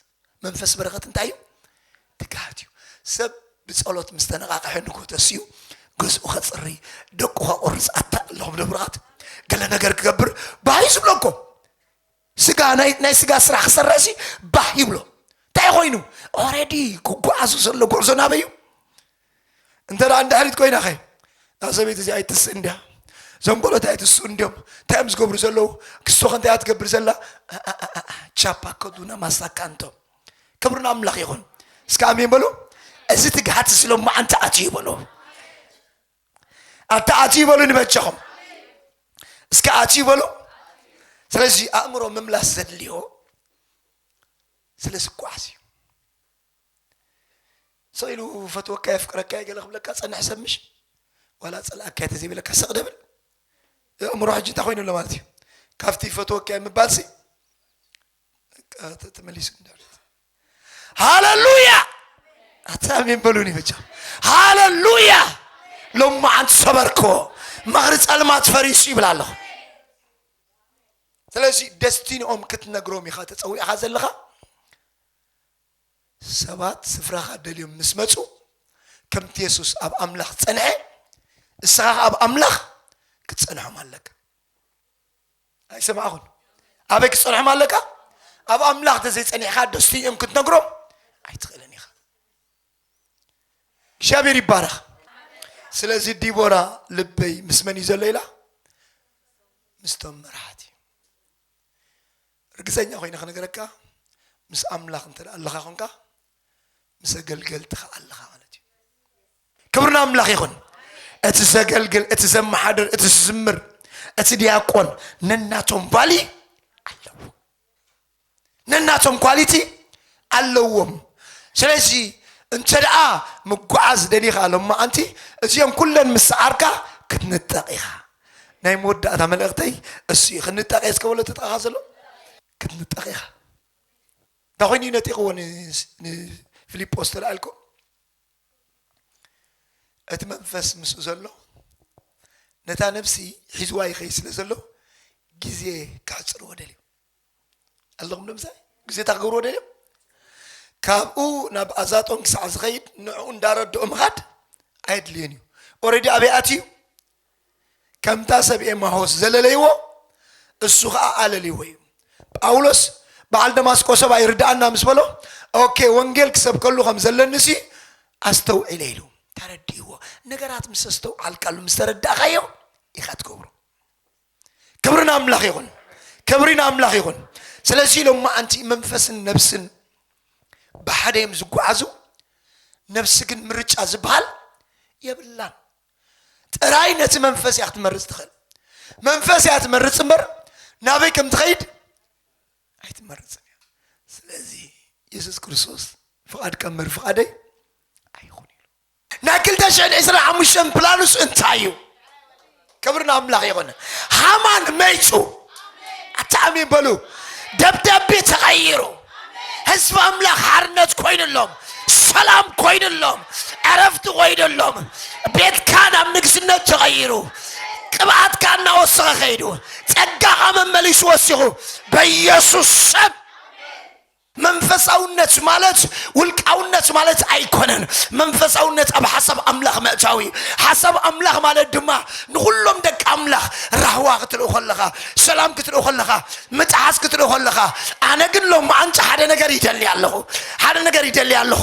መንፈስ በረኸት እንታይ እዩ ትግሃት እዩ ሰብ ብፀሎት ምስ ተነቃቅሐ ንጎ ተስኡ ገዝኡ ከፅሪ ደቁ ከቁርፅ ኣታ ኣለኹም ደብራት ገለ ነገር ክገብር ባህ እዩ ዝብሎ እኮ ስጋ ናይ ናይ ስጋ ስራሕ ክሰርሕ ሲ ባህ ይብሎ እንታይ ኮይኑ ኦረዲ ክጓዓዙ ዘሎ ጉዕዞ ናበይ እዩ እንተ ደኣ ንድሕሪት ኮይና ከ እዛ ሰበይቲ እዚኣ ኣይትስእን ድያ እዞም ቆሎት ኣይትስኡ እንዲዮም እንታይ እዮም ዝገብሩ ዘለዉ ክስቶ ከ እንታይ እያ ትገብር ዘላ ቻፓ ከዱና ማሳካንቶ ክብሪ ንኣምላኽ ይኹን እስከ ኣሜን በሉ እዚ ትግሃት እዚ ሎሚ ኣንተ ኣትዩ በሉ ኣንተ ኣትዩ በሉ ንበጃኹም እስከ ኣትዩ በሉ ስለዚ ኣእምሮ ምምላስ ዘድልዮ ስለ ዝጓዓዝ እዩ ስቕ ኢሉ እፈትወካ የፍቅረካ እየ ገለ ክብለካ ዝጸንሐ ሰብ ምሽ ዋላ ጸልኣካ እየ ተዘይበለካ ስቕ ደብል የእምሮ ሕጂ እንታይ ኮይኑ ኣሎ ማለት እዩ ካብቲ ይፈትወካ እየ ምባልሲ ተመሊሱ እንዳሉት ሃለሉያ ኣታሜን በሉኒ ብቻ ሃለሉያ ሎማ ዓንቲ ሰበርኮ መኽሪ ጸልማት ፈሪሱ ይብል ኣለኹ ስለዚ ደስቲንኦም ክትነግሮም ኢኻ ተፀዊዕኻ ዘለኻ ሰባት ስፍራኻ ደልዮም ምስ መጹ፣ ከምቲ የሱስ ኣብ ኣምላኽ ዝጸንሐ፣ እስኻ ኸኣ ኣብ ኣምላኽ ክትጸንሖም ኣለካ። ኣይሰማዕኹን? ኣበይ ክትጸንሖም ኣለካ? ኣብ ኣምላኽ ተዘይጸኒሕካ ደስቲ እዮም ክትነግሮም ኣይትኽእልን ኢኻ። እግዚኣብሔር ይባረኽ። ስለዚ ዲቦራ ልበይ ምስ መን እዩ ዘሎ ኢላ ምስቶም መራሕቲ ርግጸኛ ኮይነ ክነግረካ ምስ ኣምላኽ እንተ ኣለኻ ኮንካ ምስ ኣገልገልቲ ከኣ ኣለኻ ማለት እዩ ክብሪ ንኣምላኽ ይኹን እቲ ዘገልግል እቲ ዘመሓድር እቲ ዝዝምር እቲ ዲያቆን ነናቶም ቫሊ ኣለዎ ነናቶም ኳሊቲ ኣለዎም ስለዚ እንተ ደኣ ምጓዓዝ ደሊኻ ሎማዓንቲ እዚኦም ኩለን ምስ ሰዓርካ ክትንጠቕ ኢኻ ናይ መወዳእታ መልእኽተይ እሱ እዩ ክንጠቀ እስከ በሎ ትጥቃኻ ዘሎ ክትንጠቅ ኢኻ እንታ ኮይኑ እዩ ነጢቕዎ ንፊልጶስ ተላኣልኮ እቲ መንፈስ ምስኡ ዘሎ ነታ ነብሲ ሒዝዋ ይኸይ ስለ ዘሎ ግዜ ክሕፅርዎ ደልዩ ኣለኹም ዶ ምሳይ ግዜ እታ ክገብርዎ ደልዮም ካብኡ ናብ ኣዛጦን ክሳዕ ዝኸይድ ንዕኡ እንዳረድኦ ምኻድ ኣየድልዮን እዩ ኦረዲ ኣበይ ኣትዩ ከምታ ሰብ ኤማሆስ ዘለለይዎ እሱ ከዓ ኣለልይዎ እዩ ጳውሎስ በዓል ደማስቆ ሰብ ኣይርድኣና ምስ በሎ ኦኬ ወንጌል ክሰብከሉ ከም ዘለኒ ሲ ኣስተውዒለ ኢሉ ተረድእዎ ነገራት ምስ ኣስተውዓልካሉ ምስ ተረዳእካዮ ኢኻ ትገብሮ ክብሪ ንኣምላኽ ይኹን ክብሪ ንኣምላኽ ይኹን ስለዚ ኢሎም መዓንቲ መንፈስን ነብስን ብሓደ እዮም ዝጓዓዙ ነብሲ ግን ምርጫ ዝበሃል የብላን ጥራይ ነቲ መንፈስ እያ ክትመርፅ ትኽእል መንፈስ እያ ትመርፅ እምበር ናበይ ከም ትኸይድ ኣይትመርፅን እያ ስለዚ የሱስ ክርስቶስ ፍቓድካ ምር ፍቓደይ ኣይኹን ኢሉ ናይ ክልተ ሽሕን ዕስራን ሓሙሽተን ፕላኑስ እንታይ እዩ? ክብሪ ንኣምላኽ ይኹን። ሃማን መይጹ ኣታኣሚ በሉ ደብዳቤ ተቐይሩ ህዝቢ ኣምላኽ ሓርነት ኮይኑሎም ሰላም ኮይኑሎም ዕረፍቲ ኮይኑሎም ቤትካ ናብ ንግስነት ተቐይሩ ቅብኣትካ እናወሰኸ ከይዱ ጸጋኻ መመሊሱ ወሲኹ በኢየሱስ ሰብ መንፈሳውነት ማለት ውልቃውነት ማለት ኣይኮነን መንፈሳውነት ኣብ ሓሳብ ኣምላኽ ምእታው እዩ ሓሳብ ኣምላኽ ማለት ድማ ንኹሎም ደቂ ኣምላኽ ራህዋ ክትርኢ ከለኻ ሰላም ክትርኢ ከለኻ ምጥሓስ ክትርኢ ከለኻ ኣነ ግን ሎም ኣንጭ ሓደ ነገር ይደሊ ኣለኹ ሓደ ነገር ይደሊ ኣለኹ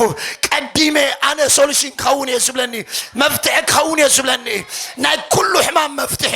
ቀዲመ ኣነ ሶሉሽን ክኸውን እየ ዝብለኒ መፍትሒ ክኸውን እየ ዝብለኒ ናይ ኩሉ ሕማም መፍትሒ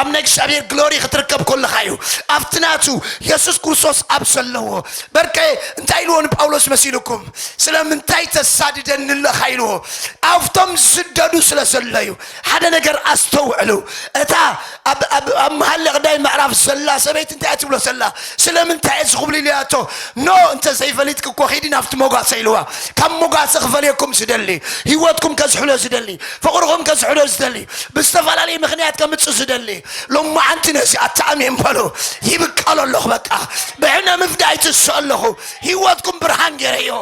ኣብ ናይ እግዚኣብሔር ግሎሪ ክትርከብ ኮለኻ እዩ ኣብቲ ናቱ የሱስ ክርስቶስ ኣብ ዘለዎ በርከ እንታይ ኢልዎ ንጳውሎስ መሲልኩም ስለምንታይ ተሳድደኒ ኣለኻ ኢልዎ ኣብቶም ዝስደዱ ስለ ዘሎ እዩ ሓደ ነገር ኣስተውዕሉ እታ ኣብ መሃለ ቅዳይ ምዕራፍ ዘላ ሰበይቲ እንታይ እያ ትብሎ ዘላ ስለምንታይ እዚ ክብሉ ኢልያቶ ኖ እንተ ዘይፈሊጥክ እኮ ኺዲ ናብቲ ሞጓሰ ኢልዋ ካብ ሞጓሰ ክፈልየኩም ዝደሊ ህይወትኩም ከዝሕሎ ዝደሊ ፍቕርኹም ከዝሕሎ ዝደሊ ብዝተፈላለየ ምኽንያት ከምፅእ ዝደሊ ሎማዓንቲ ነዚ ኣተኣሚን በሉ ይብቀሎ ኣለኹ በቃ ብዕነ ምፍዳይ ትስእ ኣለኹ ሂወትኩም ብርሃን ገይረዮ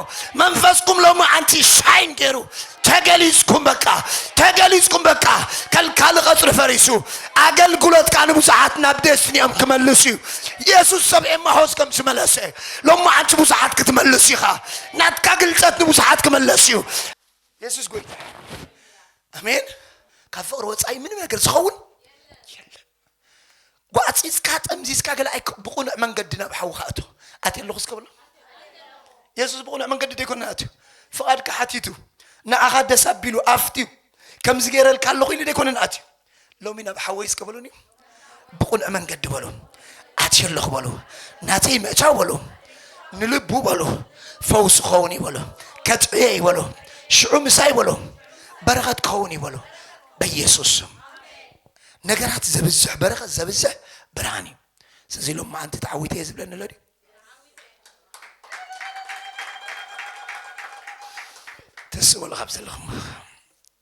መንፈስኩም ሎማዓንቲ ሻይን ገይሩ ተገሊፅኩም በቃ ተገሊፅኩም በቃ ከልካሊ ቐፅሪ ፈሪሱ ኣገልግሎትካ ንብዙሓት ናብ ዴስቲኒኦም ክመልስ እዩ የሱስ ሰብ ኤማሆስ ከም ዝመለሰ ሎማዓንቲ ብዙሓት ክትመልስ ኢኻ ናትካ ግልፀት ንብዙሓት ክመለስ እዩ የሱስ ጎይታ ኣሜን። ካብ ፍቕሪ ወፃኢ ምንም ነገር ዝኸውን የለን። ጓዕፂፅካ ጠምዚዝካ ገለ ኣይ ብቑኑዕ መንገዲ ናብ ሓዊ ካኣቶ ኣት ኣለኹ ስከብሎ የሱስ ብቑኑዕ መንገዲ ደይኮነ ኣትዩ ፍቓድካ ሓቲቱ ንዓኻ ደስ ኣቢሉ ኣፍትዩ ከምዚ ገይረልካ ኣለኹ ኢሉ ደይኮነ ንኣትዩ ሎሚ ናብ ሓወይ እስከ በሉኒ ብቁኑዕ መንገዲ በሉ ኣትየ ኣለኹ በሉ ናተይ ምእታው በሉ ንልቡ በሉ ፈውስ ክኸውን እዩ በሉ ከጥዕየ እዩ በሉ ሽዑ ምሳይ በሉ በረኸት ክኸውን እዩ በሉ በኢየሱስ ስም ነገራት ዘብዝሕ በረኸት ዘብዝሕ ብርሃን እዩ ስለዚ ሎም መዓንቲ ተዓዊተ እየ ዝብለኒ ኣሎ ድዩ ተስእበሉ ካብ ዘለኹም